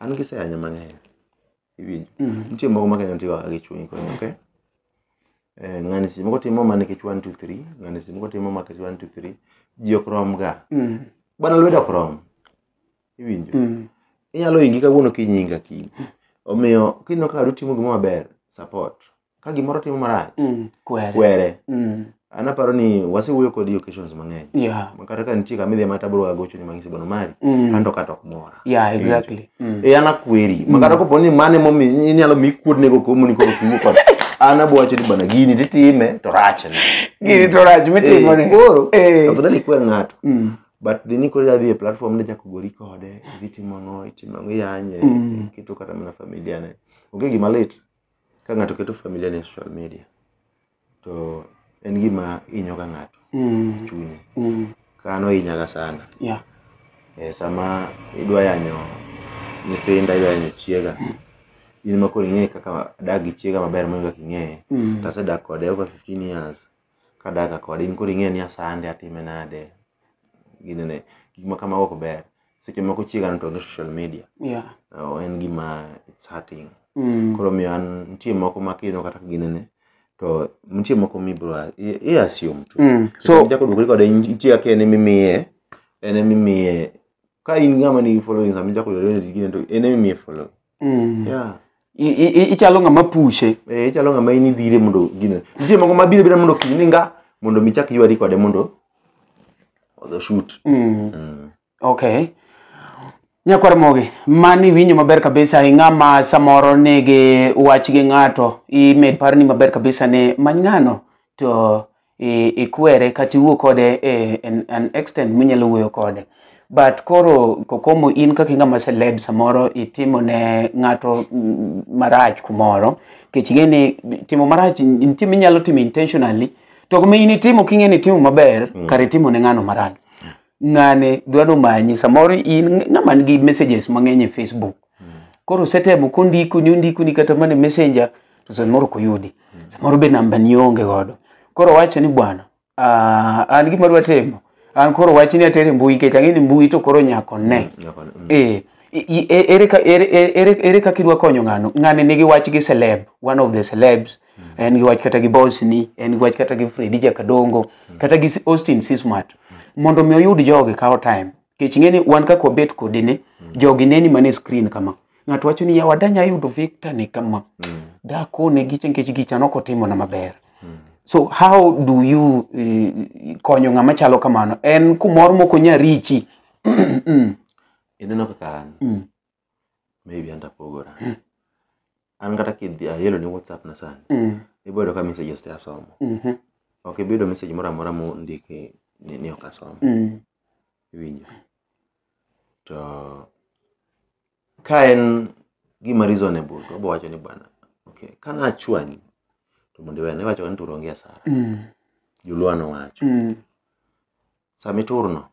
an giseyanyo mang'eny iwinjo Mhm. nitie moko makenyo tigo gi chuny konyo okay Eh, ng'ani seche moko timo mana nikech 1 2 3 ng'ani seche moko timo mana nikech 1 2 3 ji ok rom ga Mhm. bana lwedo ok rom iwinjo Mhm. inyalo ingi kawuono kinyinga kiny omiyo kineno ka utimo gima maber support ka gimoro timo marach Mm. Kwere. kwere Mm. an aparo ni wasewuoyo kodi occasions mang'eny Yeah. Ma kata ka nitie kama idhi ma tabro agochoni mang'isi bono mari Mm. anto kata ok mora Yeah, exactly. Mm. e an akweri ma kata kopo ni mane momi inyalo mi kuodnego komoni koro kiwuo kod an abwacho ni bana gini titime to rachne Gini to rach mitimo ni. koro Eh. afadhali ikwer ng'ato Mm. but dhi ni koro idhi e platform ni chako gori kode idhi timo ang'o itimo ang'o iyanye Mm. iketo kata mana familia ne onge gima lit ka ng'ato keto familia ne social media to en gima inyo ga ng'ato Mm. chunye Mm. kano inyaga sana Yeah. e, sama idwa yanyo nyithinda idwa yanyo chiega in ma koro ing'eyo kaka adak gi chiega maber moingo kaka ing'eye Mm. to asedak kode over 15 years kadaka kode in koro ing'eyo ni asande atime nade ginene gik ma kamago ok ber seche moko chiega noto onge social media yeah. oh, en gima it's hurting mm. koro miyo an nitie moko ma kineno kata ka ginene to nitie moko mibro i- i assume tu Mm. so so jako dukore kode nitie kaka en emimiye en emimiye ka in ng'ama nigi following sama ichako yore ni gine to en emimiye following Mm. Yeah. I- i- i- ichalo ng'ama pushe Eh, ichalo ng'ama in idhire mondo gine nitie moko mabiro bira mondo kiny ninga mondo mi chak ywari kode mondo odho shoot Mm. Mm. okay nyakwar mogi mani iwinjo maber kabisa i ng'ama samoro nigi wach gi ng'ato imed par ni maber kabisa ni many ng'ano to ikwere kata iwuo kode e, en, an extent minyalo wuoyo kode but koro kokomo in kaka ing'ama celeb samoro itimo ne ng'ato mm, marach kumoro kech ing'e ni timo marach nitie minyalo timo intentionally to kuma in itimo king'e ni itimo maber mm. kare itimo ne ng'ano marach ng'ane dwano manyi samoro in ng'ama nigi messages mang'eny e facebook koro setemo kondikoni ondikoni kata mana e messenger to samoro ok oyudi samoro be namba ni onge godo koro wacho ni bwana ah, an gima dwa timo an koro wach ni atere mbui nikech ang'e ni mbui to koro nyako ne Nyako ne, mm. Eh, i- i- e- ere ka- ere- ere- ere- ere kaka idwa konyo ng'ano ng'ani nigi wach gi celeb one of the celebs en gi wach kata gi bosni en gi wach kata gi fredi jakadongo kata gi S- austin sismart mondo mi oyud jogi kawo time kech ng'eni wan kaka wabet kodi ni mm. jogi neni mana e screen kama ng'ato wacho ni yawa danya yudo victor ni kama mm. dhako ne gicha nikech gicha nok otimo na maber mm. so how do you uh, konyo ng'ama chalo kamano en kumoro moko nya richi ineno kaka an mm. maybe an tapogora an kata kidhi ayelo ni whatsapp na sani Mm. iboyudo ka messages te asomo Mhm. ok ibiyudo message moro amora mondiki ni, ni ok asomo Mm. iwinjo to ka en gima reasonable to obowacho ni bwana okay ka nachwanyi to mondo iwena iwacho ni to onge asara Mm. joluo nowacho Mm. sama iturno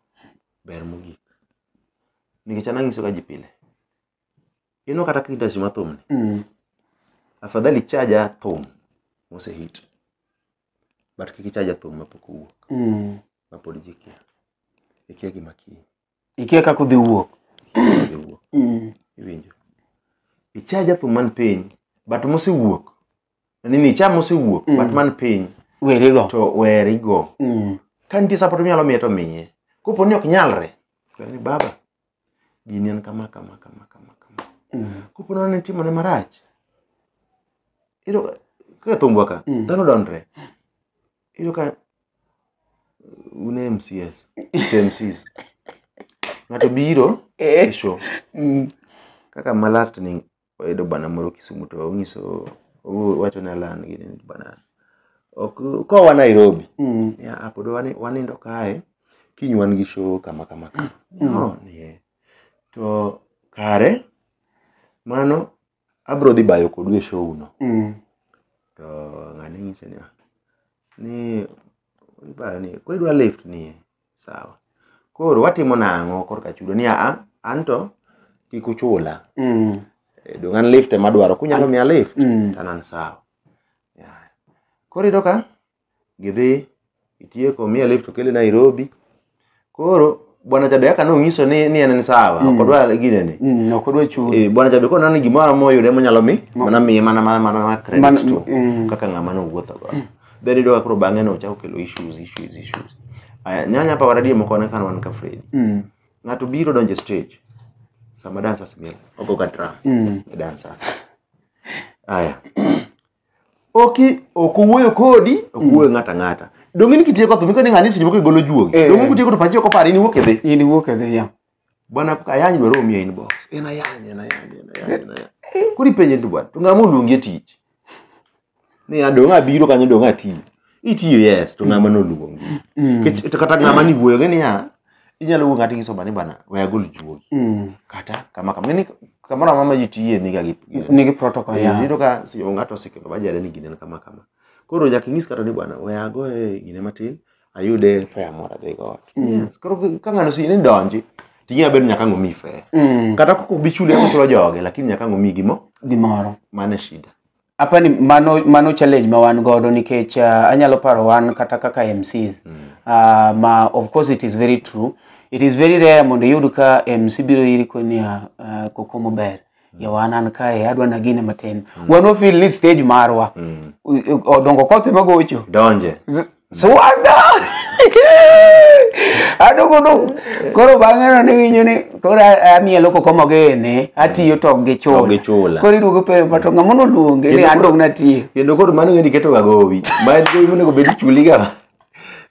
ber mogik nikech an anyisoga ji pile ineno kata kindasi ma thumni Mm. afadhali ichaja thum mosehit but kik ichaja thum mapok owuok Mm. mapod ji kia ikia gima kiny Ikia kaka udhi wuok. Idhi wuok Mm. iwinjo ichaja thum man piny but mosewuok nini cha mosewuok Mm. but man piny Werigo. to werigo Mm. ka nitie support minyalo miye to miye kopo ni ok nyalre kwere ni baba gini en kama kama kama kama kama Mm. kopo ni ne timone marach iyudo ka- kaka thumbwa ka Mm. dhano donre iyudo ka un e mcs to mcs ng'ato biro e Eh. show Mm. kaka ma last ni wayudo bana moro Kisumu to onyiso owacho ne Alan gini ni bana ok kowa Nairobi Mm. ya ah, pod wani- wanindo kae kiny wan gi show kama kama kama Mm. no nie to kare mano abro dhi bayo kodu e show no Mm. to ng'ani nyise ni "Ah, ni ibayo ni koro idwa lift nie sawa koro watimo nang'o korka chudo ni aa an to kik uchula Mm. Eh, dong' an lift ema adwaro kunyalo miya lift Mm. to an sawa Yeah. koro iyudo ka gidhi itieko miya lift okele nairobi koro bwana jabe kaka nong'iso ni ni en en sawa Mm. ok odwa ginene Mm. ok odwa chudo Eh, bwana jabe koro nani gimoro amora moyude monyalo mi Ma- mana miye mana mana mana credit Mana- to mm. kaka ng'ama nowuotho go then idoga koro bang'e no chako kelo issues issues issues aya nyanya hapa waradia moko wana kana wan ka Freddy Mm. ng'ato biro donje stage sama dancers mil ogo ka drum Mm. e dancers aya oki ok owuoyo kodi ok owuoyo ng'ato ang'ata donge ni kitieko thum ikoni ng'ani seche moko igolo juogi Eh. donge kutieko to pachi ok opar in iwuok idhi In iwuok e dhi ya. bwana ayany dwa romi e inbox en ayany en ayany en ayany en ayany koro ipenje ni to bwana to ng'ama oluongi e tich ni adong' abiro kanyo dong' atiyo itiyo yes to ng'ama noluongi Mm. Nikech- to kata ng'ama ni wuoyo gi niya inyalo wuoyo ng'ato isoba ni bwana we agol juogi Mm. kata kama kama ng'eni kamoro amama ji tiye niga gi gi- nigi protocol Eh, ya yudo ka si- ng'ato osekelo bajade ni gine en kama kama koro nyaka inyis kata ni bwana we agoye gine matin ayude fea moro adhigo ot Mm. Yes, koro ka- ka ng'ano sini donji ting'e abedo nyaka ng'omi fea Mm. kata koko bichuli ama chulo joge lakini nyaka ng'omi gimo gimoro mane shida apa ni mano mano challenge ma wan godo nikech uh, anyalo paro wan kata kaka MCs Mm. uh, ma of course it is very true it is very rare mondo iyud ka MC biro iri koni uh, kokomo ber yawa an an kae adwa nagine matin wan wafil ni stage marwa Mm. U- u- odongo kothe magocho donje Z- swada adogodo koro bang'e no niwinjo ni koro a- amielo koko mogene atiyo to gi To gi chula. chula koro iduogo penjo pato ng'ama noluonge ni Kendo an koro- dong natiyo kendo koro mano ng'eni ketoga gowi ma en gowi monego bed ichuliga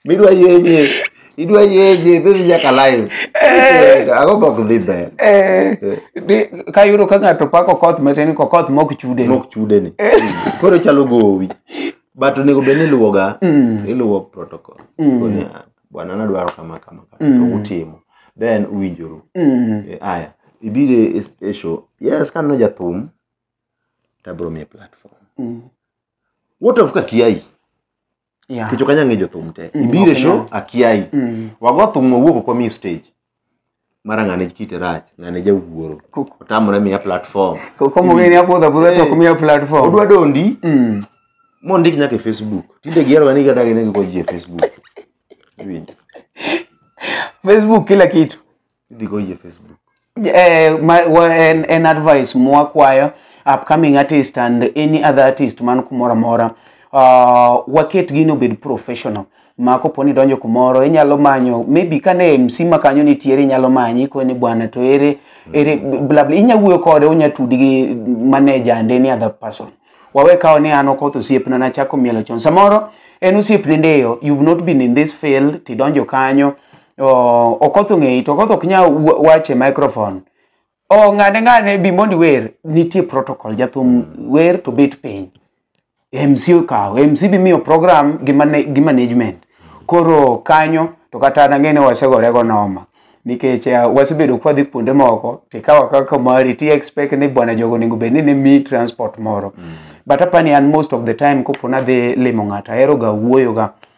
midwa yenye idwa yenye bezi nyaka live Eh. ago bok dhi ber Eh, di- kayudo ka ng'ato pako koth matin ko koth mok chude mok chude ni koro chalo gowi but onego bed ni iluwoga Mm. iluwo protocol Mm. Koni, ah, bwana nadwaro kama kama kama Mm. to utimo then uwinjoru Mm. Eh, aya ibire e show yes ka no jathum tabro mi platform Mm. what of kakiai Yeah. nikech ok anyal ng'e jothum te Mm, ibiro e ok show anyal. akiayi Mm. wago thum wawuok ok wamiyi stage mara ng'ane kite rach ng'ane jawuoro Kuk- otamore miya platform ko- Komo ng'e ni apodho apodha to ok miya platform. odwa dondi Mm. mondik nyaka e facebook tinde giheroga ni gadagi ne giko ji e facebook Iwinjo? Facebook kila kitu. Idhi go yie Facebook. Eh, ma- wa- en, en advice mwakwayo upcoming artist and any other artist man kumoro amora uh, waket gini obed professional ma kopo ni donjo kumoro inyalo manyo maybe kane mc ma kanyo nitiere inyalo manyi koni bwana to ere ere bla bla inya wuoyo kode unya tudi gi manager and any other person wawe kawo ni an okoth osiepna nachako mielo chon samoro en osiepne ndeyo you've not been in this field tidonjo kanyo Oh, okoth ong'eyi to okoth ok nya wa- wache microphone oh, ng'ane ng'ane bi mondi wer nitie protocol jathum wer to bet piny mc okawo mc bi miyo program gi, mane, gi management koro kanyo to kata an ang'e ni wasegorego noma nikech uh, wasebedo kwadhi kuonde moko tikawa kaka mari ti expect ni bwana jogo onego bed ni ne mi transport moro but apani an most of the time kopo nadhi limo ng'ato aheroga wuoyoga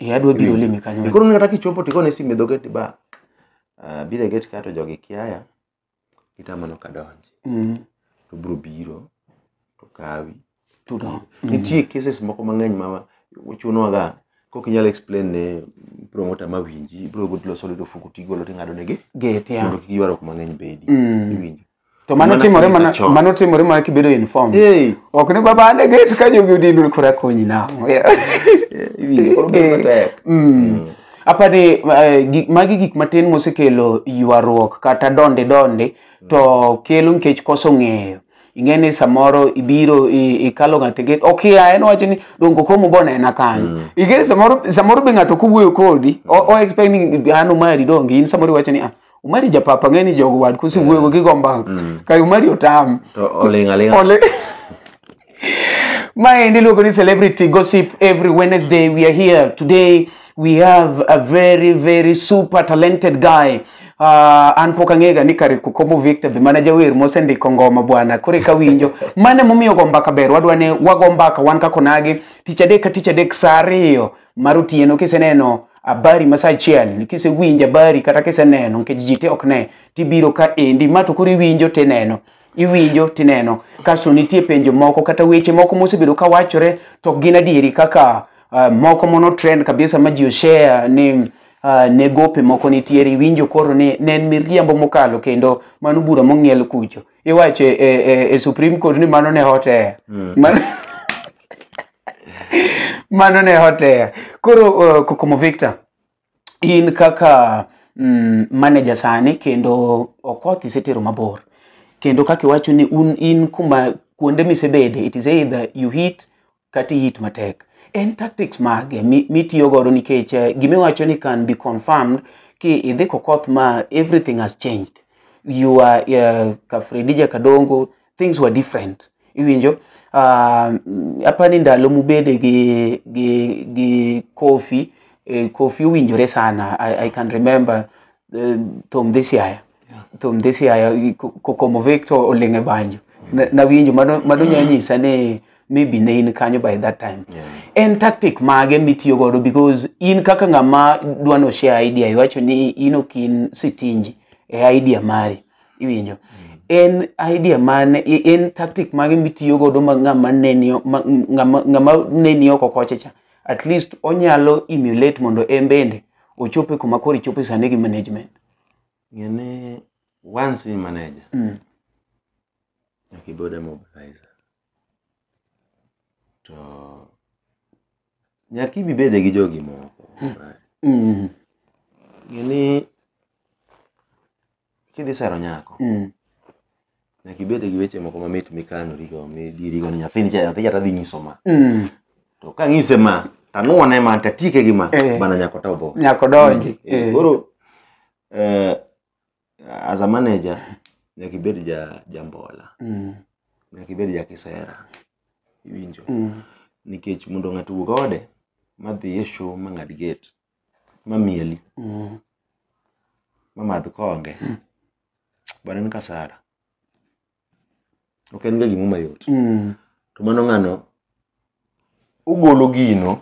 Eh, adwa biro limi kanyo. Be koro onego kata kichopo to igone simu e dho gate ba ah, biro e gate ka to jogi kiaya gitama ni ok adonji Mm. to biro biro to kawi Tudon. nitie cases moko mang'eny ma chunowaga kok inyalo explain ne promoter ma winji ibiro loso lwedo fuku tigolo ting'ado negi Gate ya. mondo kik ywaruok mang'eny bedi Mm. iwinjo to mano Mana timore kanisa mana chon. mano timore mana kibedo informed Hey. ok ni baba ane get ka jogi odindu kora konyi na Iwinjo, koro bedo matek. Mm. apani eh, gi- magi gik matin mosekelo ywaruok kata donde donde to kelo nikech koso ng'eyo ing'e ni samoro ibiro i- ikalo ng'ato get okia en wacho ni dongo komo bonena kanyo ing'e ni samoro samoro be ng'ato kowuoyo kodi o o expect ni an omari donge in samoro iwacho ni ah umari japapa ng'eni jogo wad kusi wuoyogo gigo mbang Mm. kar umari otam To oling' aling'a. Ole. Maendi iluongo ni celebrity gossip every Wednesday we are here today we have a very very super talented guy Uh, an pok ang'ega ni kare kukomo victor be mana jawer mosendiko ngoma bwana kore ka winjo mane momiyo go mbaka ber wadwa ne wago mbaka wan kakonagi tich adek ka tich adek saa ariyo mar otieno kiseneno habari masaa achiel kisewinjo habari kata kiseneno nikech ji te ok ne tibiro ka endi ma to koro iwinjo tineno iwinjo tineno kasto nitie penjo moko kata weche moko mosebedo ka wachore to ok gin adieri kaka uh, moko mono trend kabisa ma ji oshare ni uh, ne gope moko nitiere iwinjo koro ni ne en miriambo mokalo kendo mano bura mong'iel kucho iwacho e, e, e supreme court ni mano ne hotea mm. mano, mano ne hotea koro uh, kokomo victor in kaka mm, manager sani kendo okoth isetero mabor kendo kaka iwacho ni un in kuma kuonde misebede it is either you hit kata iit matek en tactics mage mi- mitiyo godo nikech eh, gima iwacho ni can be confirmed ki idhi kokoth ma everything has changed you are uh, kafredija kadongo things were different iwinjo um, apani ndalo mubede gi, gi, gi kofi eh, kofi owinjore sana I, i can remember uh, thom this yaya to mdhisi aya kokomo vek to oling' e banjo Na- nawinjo mano mano nya nyisa ni maybe ne in kanyo by that time Yeah. en tactic mage mitiyo godo because in kaka ng'ama dwa no share idea iwacho ni in ok in sitinji e idea mari iwinjo en idea mane i- en tactic mage mitiyo godo ma ng'ama neni o- ma- ng'ama ng'ama neni oko kocha cha at least onyalo emulate mondo en bende ochope kuma koro ichope sani gi management Ng'e ni once in manager, Mm. nyaka ibed a mobilizer. To nyaka ibi bede gi jogi moko. Mm. Ng'e ni kidhi sero nyako, Mm. nyaka ibed gi weche moko mamit mikanorigo midirigo ni nyathini cha nyathi cha tadhi nyiso ma Mm. to kang'ise ma tanuone ma tatieke gi ma Eh. bana nyako ta obo Nyako donji. Eh, Eh. koro eh, as a manager nyaka ibed ja jambola Mm. nyaka ibed ja kisera iwinjo Mm. nikech mondo ng'ato owuog ode madhi e show mang'ad gate mamieli Mm. mamadh konge bwana en kasara ok en ga gimo mayot Mm. to mano ng'ano ogolo gino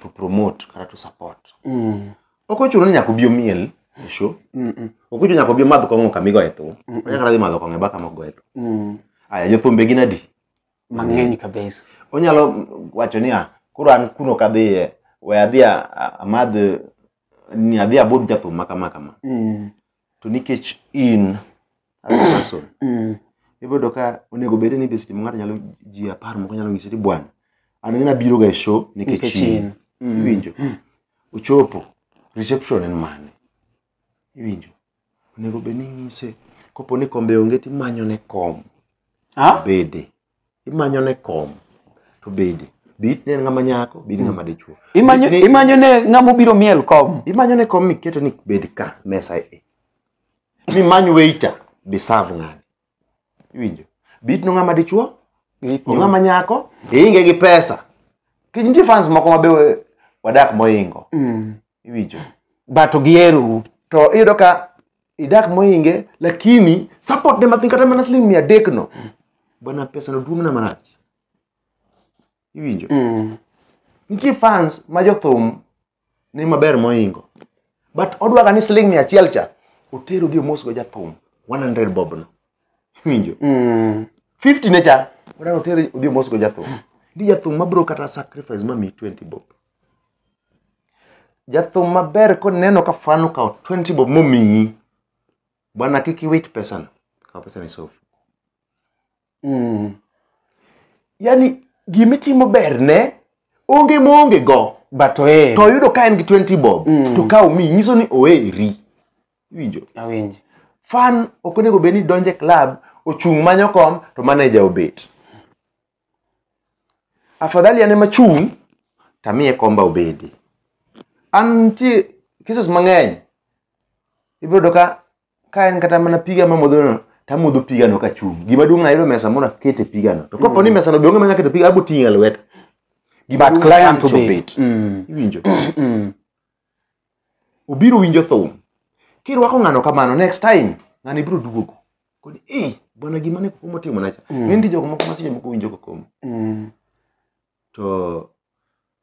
to promote kata to support Mm. ok ochuno ni nyaka obi omiel e show Mm, mm, ok ochuno nyaka obi omadh kong'o kama igoye thum Mm. onyaka dhi madho kong'o e baka mogoye thum mm. aya jothumbe gin adi mang'eny kabisa. Onyalo wacho niya, koro an kuno kadhiye, we adhi a- a- amadh ni adhi abudh jathum ma kama kama. Mm, To nikech in as a person, mm, ibodo ka onego bed ni be seche ma ng'ato nyalo ji apar moko nyalo nyisi ni bwana, an ng'ana biro ga e show nikech nikech in. in. Mm, Iwinjo? Ochopo, reception en mane? Iwinjo? Onego bed ni inyise kopo ni kombe onge to imanyone kom Ha? bede. Imanyone kom to bede. Be itne en ng'ama nyako, be in ng'ama dichwo. Imanyo Ni- imanyo ne ng'ama obiro miel kom. Imanyone kom miketo ni bed ka mesa e. Ni many waiter be serve ng'ani. iwinjo bit no ng'ama dichuo Gitno. ong'ama nyako iinge gi pesa kech nitie fans moko mabe we- wadak moingo Mm. iwinjo but ogierou to iyudo ka idak moinge lakini support ne mathin kata mana siling mia adek no bwana pesa no duong' na marach iwinjo Mm. nitie fans ma jothum ni maber moingo but odwaga ni siling mia achiel cha otero gi omosgo jathum 100 bobno iwinjo Mm. 50 ne cha odano otero odhi omosgo jathum ndi jathum mabro kata sacrifice mami 20 bob jathum maber koneno ka fan okawo 20 bob momiyi bwana kik iwit pesano kaw pesano isofu mm. yani gima itimo berne onge moonge go but ohere to oyudo ka en gi 20 bob Mm. to ka omi nyiso ni oheri iwinjo awinji fan ok onego bed ni donje club ochung' manyo kom to maneja obet afadhali an ema chung' tamiye komba obedi an nitie cases mang'eny ibiro yudo ka ka en kata mana piga mamodhono tamodho pigano kachung' gima duong' ayudo mesa moro akete pigano to kopo ni mesano be onge mesa akete piga abo ting'e e lweta Gima but duong' client an to obet. bet Mm. iwinjo Mm. obiro winjo thum kirwako ng'ano kamano next time ng'ano ibiro duogo koni ei bwana gima ne kokomo timonacha Mm. nindi jogo moko maseche moko winjo kokomo Mm. to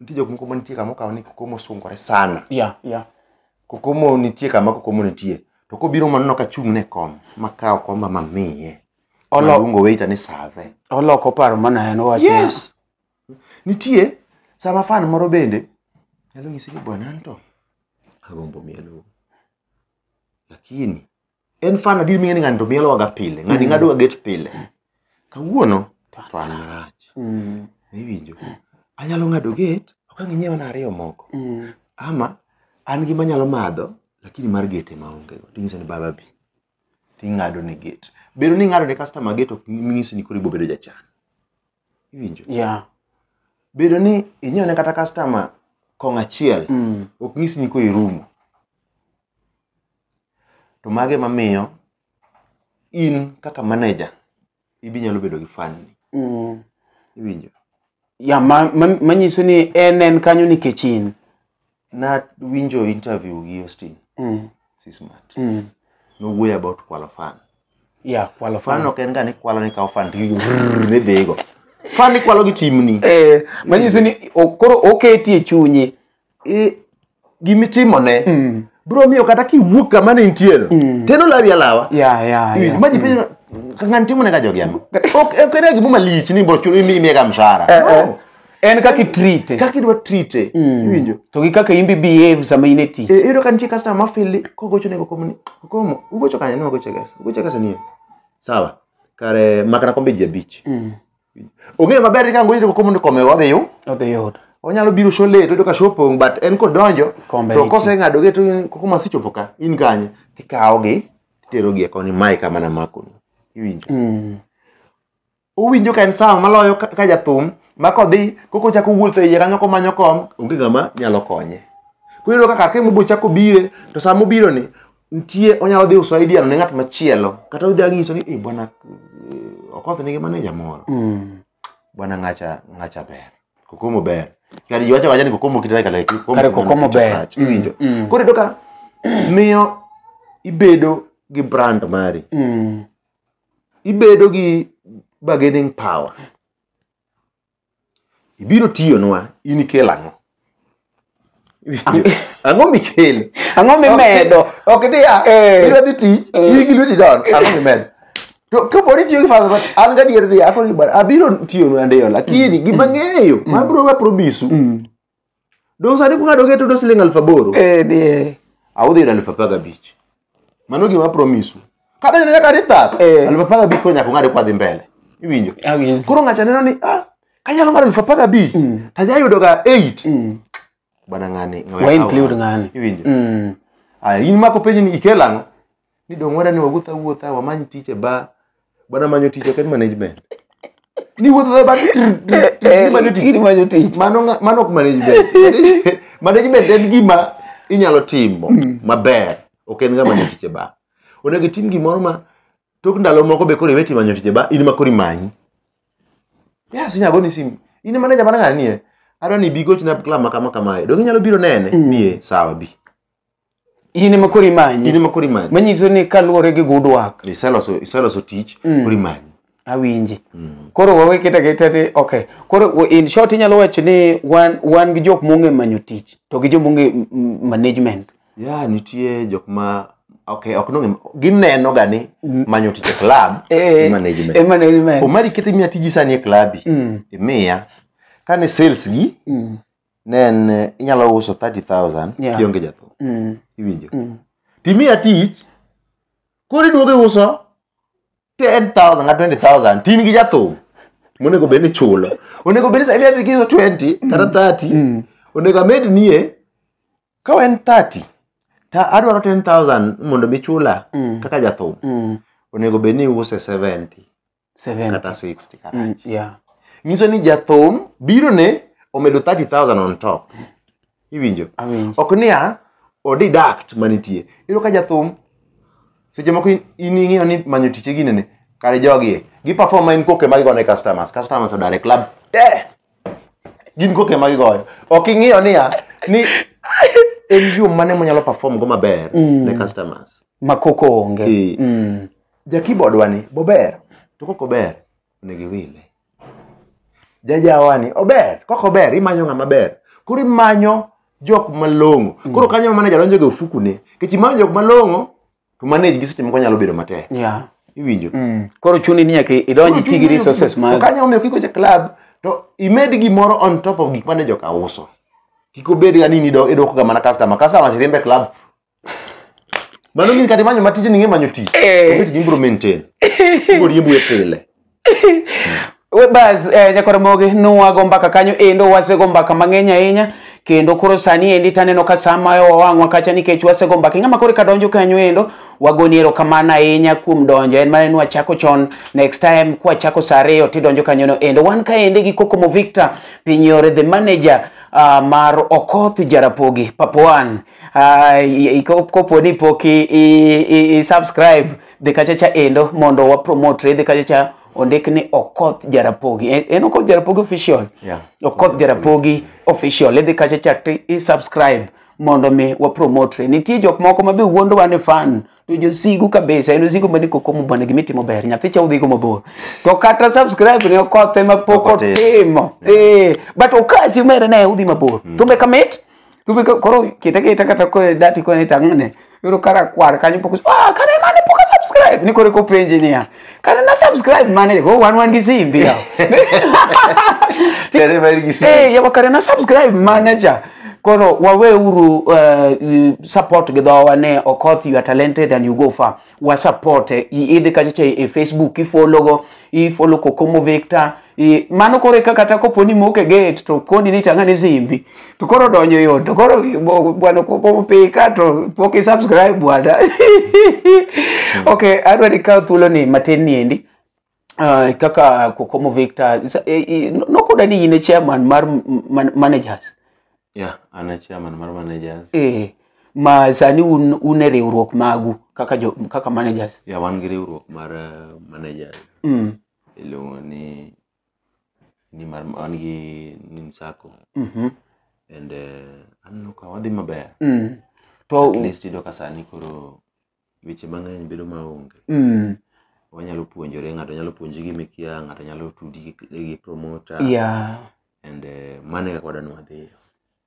nitie jok moko manitie kama okawo ni kokomo sungore sana yeah yeah kokomo nitie kama kokomo nitie to kobiro maneno ka chung' ne kom makawo komba mamiye Olo- maluongo waiter ni save oloko paro mana en owacho yes nitie sama fan moro bende nyalo nyisi ni bwana anto agombo mielo lakini en fan adier ming'e ni ng'ani to mielowaga pile ng'ani Mm. ng'adoga get pile kawuono to fan marach Mm. iwinjo anyalo ng'ado get ok ang' inyiewana ariyo moko Mm. ama an gi manyalo madho lakini mar gete maonge go tinyise ni baba bi ting'ado ne get bedo ni ing'ado ne customer get ok nyisi ni koro ibobedo jachan iwinjo Yeah. bedo ni inyiewo ne kata customer kong achiel Mm. ok nyisi ni koro irumo To mago ema miyo in kaka manager ibi nyalo bedo gi fan ni. Mm. Iwinjo? Ya ma- ma- manyiso ni en en kanyo nikech in. Na winjo interview gi Austin Mm. Sismat. Mm. Nowuoyo about kwalo fan. Ya kwalo Fan fan. ok en ga ni kwalo ni kawo fan to igo rrrr ni dhigo. Fan ikwalo gi timni. Eh, manyiso ni o- koro oketi e chunyi i- gimitimone Mm. biro miyo kata kiwuok kama ne intiere Mm. teno lawi alawa Yeah, yeah, Iwinj, yeah. ma ji penjo ka ng'ani timone ka jogi ang'o ok ok en gimo malich ni bochulo imiye ka mshahara Eh, eh. No. En kaka itrite. kaka idwa trite Mm. iwinjo To gi kaka imbi behave sama in e tich. Eh, iyudo ka nitie customer ma fili kogocho ne kokomo ni kokomo ugocho kanye ni wagocho gesa ugocho gesa nie sawa kare makana kombe ji abich Mm. ong'eyo maber ni kango yire komo ni kome wadhi yu odhi yud onyalo biro show late oyudo ka show opong but en kodonjo Kombe to nitie. koseng'ado ge to koko masechopo ka in kanye tikawogi titerogi e koni mae kama namakoni iwinjo Mm. owinjo ka en sawa maloyo ka ka jathum ma kodhi koko chako wuotho e iye kanyo komanyo kom onge ng'ama nyalo konye kuyudo ka kar ka mobo chako bire to sama obironi nitie onyalo dhi uso idea ne ng'at machielo kata odhi anyiso ni "Eh, bwana eh, okoth nigi maneja moro Mm. bwana ngacha ngacha ber kokomo ber kare jiwacho wacha ni kokomo kitare kale kokomo Kare kokomo ber. iwinjo Mm, mm. koro iyudo ka miyo ibedo gi brand mari Mm. ibedo gi bargaining power ibiro tiyonwa in ikel ang'o ang'o mikelo ang'o mimedo ok diya Eh. idwa dhi tich Eh. iyi gi lweti don ang'o mimedo to kapo ni tiyo gi father but an gadier ni akoni bar abiro tiyonu andeyo lakini gima ng'eyo mabiro wa promisu Mm. dong sani kung'ado ng'e tudo siling aluf aboro Eh, die. audhi yudo aluf apar gabich mano gima promisu kata nyaka nyaka dithath Eh. aluf apar gabich koro nyaka ung'ade kwadhi mbele iwinjo Awinjo. koro ng'acha neno ni ah, kanyalo ng'ado aluf apar gabich Mm. tajayudoga eight Mm. bwana ng'ani Wa include ng'ani. iwinjo Mm. aya in mako penjni ikelang'o ni dong wara ni wawuotha wuotha wamany tich e ba bana manyo tich eken management ni wuotha ba manyo tich Gini manyo tich. mano nga- mano ok management management en gima inyalo timo maber ok en ga manyo tich e ba onego itim gimoro ma tok ndalo moko be koro iwe timo manyo tich e ba in ma koro imanyi yes inyalo goni simu in e manager mana ng'ani nie adwa ni bi gochna club ma kama kamae dong inyalo biro nene nie sawa bi in ema koro in imanyi ema koro imanyi manyiso ni kaluwore gi good work iseloso iseloso tich Mm. koro imanyi awinji Mm. koro wawe keta keta ni okay koro w- in short inyalo wacho ni wan wan gi jok mong'e manyo tich to gi jok mong'e m- m- management ya nitie jok ma okay ok nong'e gineno ga ni Mm. manyo tich e club Eh, management. eh, management omari kete imiya tiji sani e klabi Mm, imiya kane sales gi mm, ne en eh, inyalo uso 30000 Yeah. kionge jathum Mm. iwinjo Mm. timiya tich koro iduogo iuso 10000 kata 20000 tin gi jathum monego bed ni chulo onego bed ni sani adhi giuso 20 kata 30 Mm. onego amed nie ka en 30 ta adwaro 10000 mondo mi chula Mm. kaka jathum Mm. onego bed ni iuse 70 70. kata 60 kata Mm, yeah. nyiso ni jathum biro ne omedo 30000 on top iwinjo Awinjo. ok niya odidact manitie iyudo ka jathum seche moko in- in ing'eyo ni manyo tich e ginene kare jogie giperform ma in koke ma gigone customers customers odare club te gin koke ma gigoyo ok ing'eyo niya ni en yo mane monyalo perform go maber Mm. ne customers Makoko onge. Eh. Mm. ja keyboard wani bober to kok ober onego iwile jajawani ober kok ober imanyo ng'ama ber koro imanyo jok malong'o mm. koro kanyo ma manager donjo ga ofukune kech imanyo jok malong'o to manage gi seche moko nyalo bedo matek yeah. iwinjo mm. koro chuni ni nyaka idonji ti gi resources ma kanyo omiyo kiko ja club to imed gimoro on top of gik mane joka uso kik obed ga ni idwokoga mana customer customer riembe club Mano min kata imanyo matije ning'e manyo tich. Eh. Onge tich ibiro maintain. Ibiro riembo e pile. We Bas, eh, Nyakoromogi, nwago mbaka kanyo endo wasego mbaka mang'eny ahinya kendo koro sani endi taneno ka saa mayo wawang'wa kacha nikech wasego mbaka ing'ama koro ka donjo kanyo endo wagoni erokamano ahinya kuom donjo en mana ni wachako chon next time kwachako saa ariyo tidonjo kanyono endo wan ka ende gi Kokomo Victor Pinyore the manager ah, mar Okoth Jarapogi Papoan Ah, i- i- ko- kopo ni pok i- i- i- i subscribe dhi kacha cha endo mondo wa promote dhi kacha cha ondik ni okoth jarapogi En- en okoth jarapogi official Yeah. okoth jarapogi official idhi kacha cha to i subscribe mondo mi wa promote nitie jok moko ma be wuondowa ni fan to josigu kabisa en osigu mani koko mubana gima itimo ber nyathi cha udhigo mabor to kata subscribe ne okothe ma pok Pok otimo. otimo Eh, but okasi umere ne udhi mabor thumbe kamit Tubi ka- koro kete kete kata ko dati ko ne tang'o ne. Yoro kara kwar kanyo pok ah kane mane pok a subscribe ni kore ko penje niya. Kane na subscribe mane go wan wan gi simbi ya. Kare mar gi si. Eh yawa kare na subscribe mane cha. Koro waweuru eh, support gi dhowa ne Okoth you are talented and you go far. wa support e idhi kacha cha e Facebook ifollow go ifollow Kokomo Victor i mano kore ka kata kopo ni moke gate to koni ni tanga ni zimbi to koro donjo yo to koro bo- bwana Kokomo pika to pok i subscribe bwana okay adwa ni kaw thuolo ni matin ni endi uh, kaka Kokomo Victor sa- eh, eh, no- nokoda ni in e chairman mar m- man- managers Yeah, an a chairman mar managers. eh, ma sani un, un e riwruok magu kaka, jo, kaka managers Yeah, wan gi riwruok mar eh, managers. mm. Iluongo ni ni mar wan gi Nin Sacco mm and eh, aneno ka wadhi maber. mm. At to least iyudo ka sani koro weche mang'eny bedo maonge Mm. wanyalo puonjore ng'ato nyalo puonji gima ikia ng'ato nyalo tudi gi- gi promoter Yeah. and eh, mano e kaka wadwa ni wadhiyo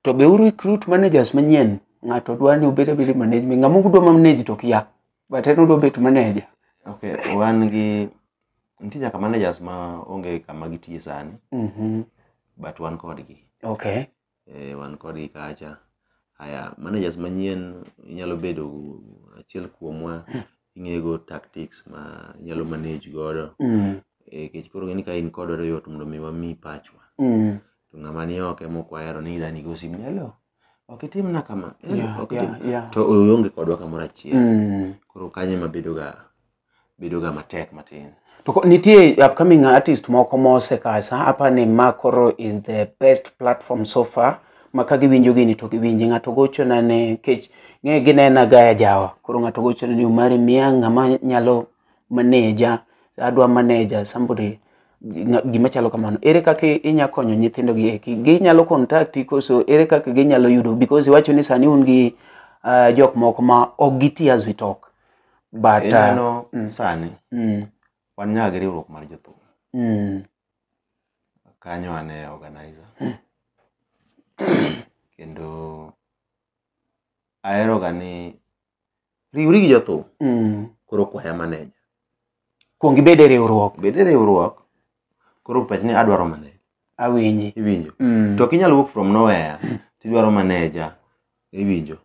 To be u recruit managers manyien. Ng'ato dwa ni obed abeda management. Ng'ama ok dwa manage to kia. But en odwa bet manager. okay wan gi nitie nyaka managers ma onge kama gitiye sani Mhm. but wan kodgi Okay. eh, wan kodgi kacha haya managers manyien inyalo bedo achiel kuomwa ing'ego tactics ma inyalo manage godo Mm. Eh, kech koro ng'eni ka in kodwa to yot mondo mi wami pachwa Mm. to ng'ama ni oko ema ok wahero ni idani go simu ni hello ok itimna kama hello Yeah, ok itim yeah, yeah. to onge kodwa kamoro achiel Mm. koro kanyo ema bedoga bedoga matek matin. To ko- nitie upcoming artist moko mosekasa apa ni ma koro is the best platform so far ma ka giwinjo gini to giwinji ng'ato gochona ne kech ng'e ginena gaya jawa koro ng'ato gochona ni omari miya ng'ama nyalo maneja adwa maneja somebody nga- gima chalo kamano ere kaka inya konyo nyithindo gi eki ginyalo contacti koso ere kaka ginyalo yudo because iwacho ni sani un gi uh, jok moko ma ok giti as we talk but uh, ineno mm, sani mm, wan nyaga gi riwruok mar jothum mm, kanyo ane organizer kendo aheroga ni riwri gi jothum mm. koro kwaya maneja kuong ibed e riwruok bed e riwruok koro pach ni adwaro maneja awinji iwinjo Mm, to ok inyal wuok from nowhere tidwaro maneja iwinjo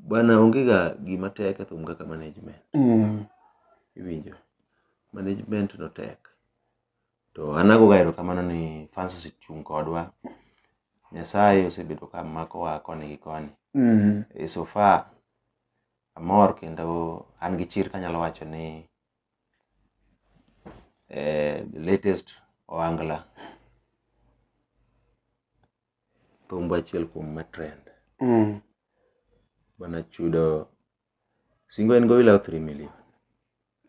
bana onge ga gima tek e thum kaka management Mm. iwinjo management no tek to an agoga erokamano ni fans osechung' kodwa nyasaye osebedo ka makowa koni gi koni Mm. e so far amor kendo an gi chir kanyalo wacho ni eh, the latest oangla thumbo achiel kuom ma trend mm. bana chudo singo en go ila 3 million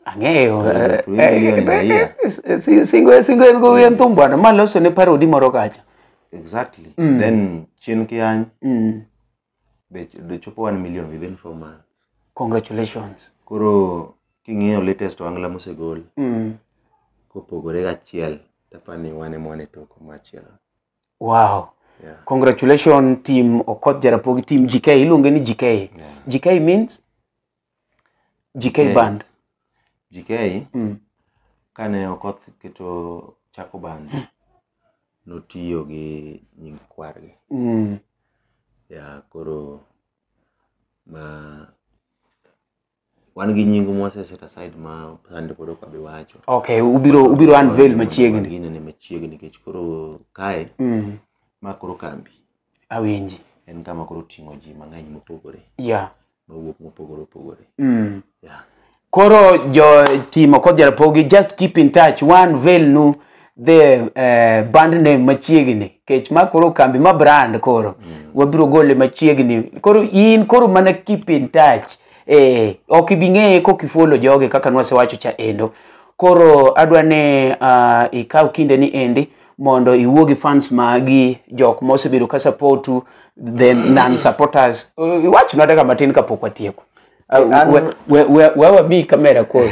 ang'eyo eh, eh, eh, singo singo en go en thumbo bwana ma loso ne parodi moro kacha exactly mm. then chien kiany mm. be do chopo 1 million within 4 months congratulations koro king'iyo latest wangla mosegol mm. kopogore gachiel tapani wane mwane toko machielo Wow. Yeah. Congratulations team Okoth Jarapogi team GK iluonge ni GK. Yeah. GK means GK GK. band. GK Mm. kane Okoth keto chako band notiyo gi nying kwargi. Mm. ya koro ma wan gi nying mwase set aside ma sande koro ok abi wacho okay ubiro ubiro unveil machiegni ginene machiegni nikech koro kae mm. ma koro kambi awinji en kama koro ting'o ji mang'eny mopogore yeah. mawuok mopogore opogore mm. yeah. koro jo timo kodhi rapogi just keep in touch one veil nu the eh, band name machiegni kech ma koro kambi ma brand koro wabiro gole machiegni koro in koro mana keep in touch eh, ok ibi ng'eye kok ifuolo joge kaka nwasewacho cha endo koro adwa ni uh, ikaw kinde ni endi mondo iwuo gi fans magi jok mosebedo ka supportu the non supporters uh, iwachnwa daka matin kapok watieko An- an- We- we- we- we wabi kamera koro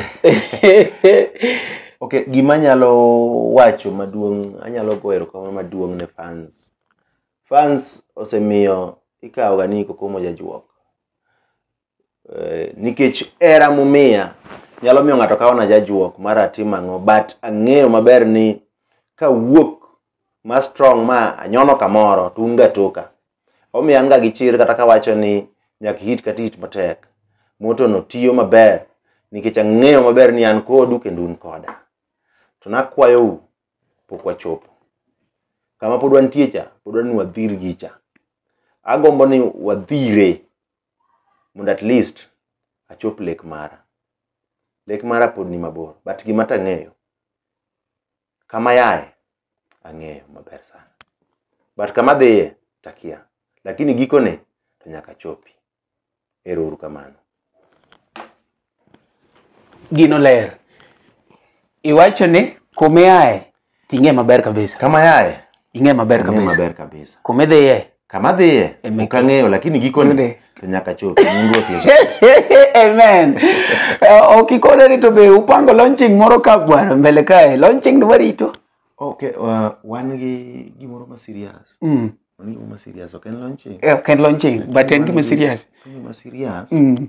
okay gima anyalo wacho maduong anyalo goyo erokamano maduong ne fans fans osemiyo ikawoga ni kokomo jajuok Eh, nikech era mumiya nyalo miyo ng'ato kawona jajuok mar atim ang'o but ang'eyo maber ni kawuok ma strong ma anyono kamoro to un gatoka Omiyo an ga gi chir kata kawacho ni nyaka hit kata hit matek. Motono tiyo maber nikech ang'eyo maber ni an kodu kendo un koda. To nakwayou pok wachopo. Kama pod wantie cha, pod wadwaro ni wadhir gicha. Agombo ni wadhire mondo at least achop lek mara. Lek mara pod ni mabor but gima tang'eyo kama yaye ang'eyo maber sana but kama dhiye takia lakini gikone to nyaka chopi ero uru kamano gino ler iwacho ni kumiaye ting'e maber kabisa kama yaye ing'e maber ing'e kabisa maber kabisa kumidhiye kama dhiye Eme- ok ang'eyo lakini gikone Yude. to nyaka chopi nying ruoth yesu amen Eh, ok ikone ni to be upango launching moro ka bwana mbele kae launching ni warito okay uh, wan gi gimoro ma serious Mm. wan gi gimoro ma serious ok en launching Eh, ok en launching but en gima serious En gima serious Mm.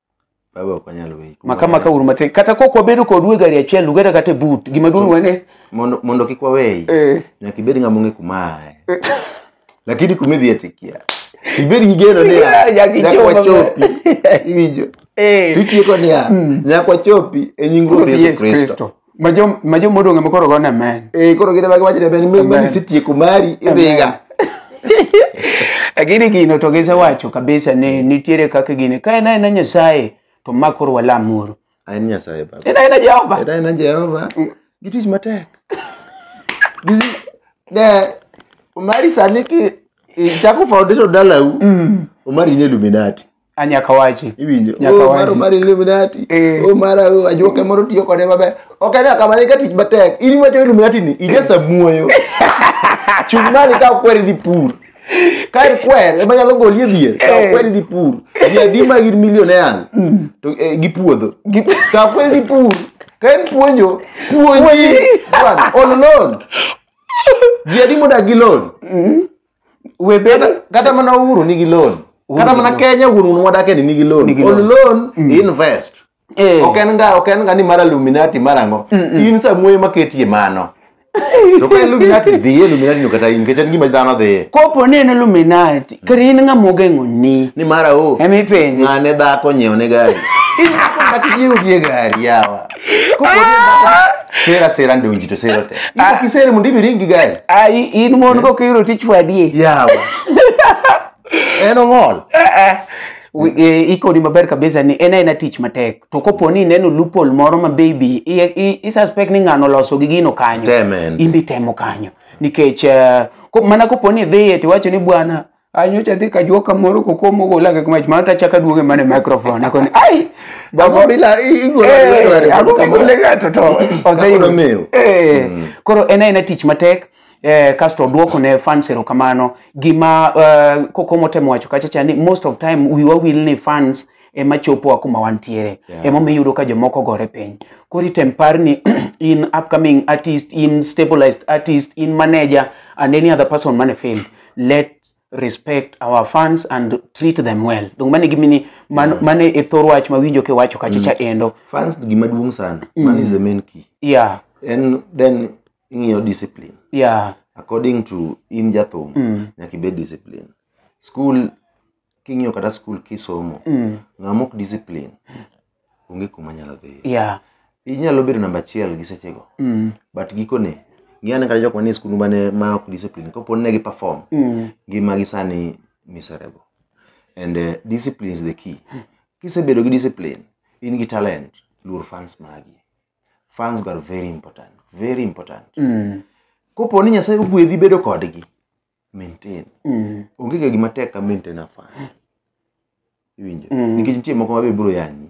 Baba ok wanyal weyi. kuma maka maka uru matek kata kok wabedo kodu e gari achiel lugeta kata e but gima duong' wene Mondo mondo kik waweyi. eh, Nyaka ibed ng'ama ong'e kuma aye. Lakini kuma idhi atikia. Ibed gi geno ni Yeah, a, nyaka nyaka ichop wachopi. Iwinjo? eh, Itieko niya, Mm. nyaka wachopi e nying Ruoth Ruoth Yesu Yesu Kristo. Kristo. Majo majo modong' ema koro gone amen. Eh koro gine wacho ne ben mimi Amen. sitieko mari idhiga. Lakini gino to gisewacho kabisa ni nitiere kaka gini. Ka en aena Nyasaye to ma koro walamuru. Aen Nyasaye baba. En aena Jehova. Eda en Jehova. Gitich matek. Gizi ne Omari sani ki ichako foundation dalau. Mm. Omari ni Illuminati. a nyaka wachi iwinjo Nyaka oh, maro wachi. mar illuminati Eh. oh, mara oh, ajuoke moro tiyo kode maber ok en kama ni ka tich matek in iwacho illuminati ni ija samuoyo chung mali ka okwer dhi pur ka ikwer ema nyalo goli e dhier ka Eh. okwer dhi pur ji adi ma gin millionaires to eh, gi puodho ka okwer dhi pur ka en puonjo puonji bwana on loan ji adi modak gi loan we bed Kata- kata mana uhuru nigi loan kata mana kenya wuon wuon wadake ni nigi loan Nigi on loan. loan Mm. invest Eh. ok en ga ok en ga ni mar illuminati mar ang'o in samuoyo maketie mano to ka illuminati dhiye illuminati no kata in nikech en gima dhano dhiye kopo ni en illuminati kata in ng'ama ogeng'oni ni mara o emipenjo ng'ane dhako nyiew ne gari in dhako kata nyiew gie gari yawa kuko sera sera ndio njito sera te iko kisere mundi biringi gai ai in mon ko kiro tich wadie yawa en ong'ol Wi- eh, ikoni maber kabisa ni en aena tich matek to kopo ni ineno loophole moro ma baby i- i- i suspect ni ng'ano loso gi gino kanyo Temen. in be temo kanyo nikech eh, ko- mana kopo ni idhiye tiwacho ni bwana anyocha adhi kajuo kamoro kokomo gola kaka mach mana tachaka duoge mane microphone akoni ai babo Ang'o bila- i- igolo- Eh, igolo aris- ang'o migole ng'ato to Kaka oseyudo nomewo. Eh, koro en aena tich matek eh, kasto odwoko ne fans erokamano gima eh, kokomo temo wacho kacha cha ni most of time wiwa wil ni fans ema chopowa kuma wantiere Yeah. ema miyudo ka jomoko gore piny koro item par ni in upcoming artist in stabilized artist in manager and any other person man e field let respect our fans and treat them well donc mane gimini man, yeah. mane e thor wach ma winjo kiwacho kachicha mm. endo fans gima duong' sana mm. man is the main key yeah and then ing'iyo discipline yeah according to in jathum mm. nyaka ibed discipline school king'iyo kata skul kisomo Mm. ng'ama ok discipline onge kuma nyalo dhiyo Yeah. inyalo bedo namba achiel gi sechego Mm. but gikone ng'iyane kata jok manie skul mane ma ok discipline kapo ni ne gi perform Mm. ngimagi sani miserable and uh, discipline is the key kisebedo gi discipline in gi talent luor fans magi fans go are very important very important Mm. kopo ni nyasaye ogwedhi bedo kodgi maintain Mm. onge ga gima tek ka maintain a fan iwinjo Mm. nikech nitie moko mabe biro yanyi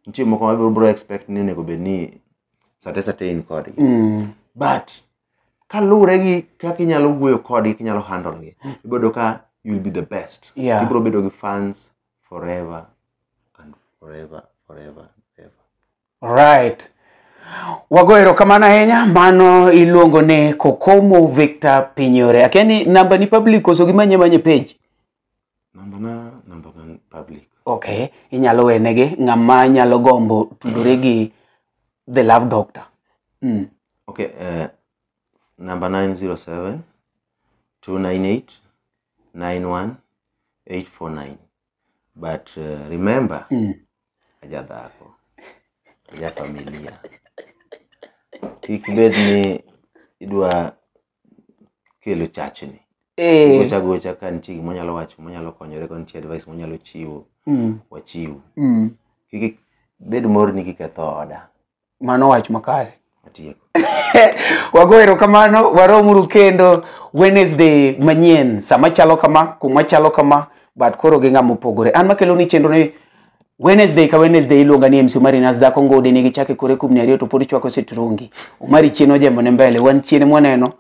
nitie moko mabe biro expect ni onego bed ni sate sate in kodgi Mm. but kaluwore gi kaka inyalo wuoyo kodgi kinyalo handle gi ibodo ka you will be the best Yeah. ibiro bedo gi fans forever and forever forever and ever Right. Wago erokamano ahinya. Mano iluongo ni Kokomo Victor Pinyore. Akia ni namba ni public koso gimanye manye page. Namba na namba na public. Okay, inyalo wenegi ng'ama nyalo gombo tudore gi The Love Doctor. Mm. Okay, uh, namba 907 298 91 849. but uh, remember Mm. aja dhako aja familia kik bed ni idwa kelo chachni Eh. gocha gocha ka nitie gima onyalo wacho monyalo konyore ka nitie advice monyalo chiwo Mm. wachiw Mm. kik bed morni kiketho oda mano wach makare Atieko. wago erokamano waromuru kendo wednesday manyien sama chalo kama kuma chalo kama but koro gi ng'ama opogore an makelo ni chenro ni wednesday ka wednesday iluonga ni mc omari nas dhako ngode ne gichake kore kubni ariyo to pod chwako sitrungi omari chien ojembo ne mbele wan chien mwaneno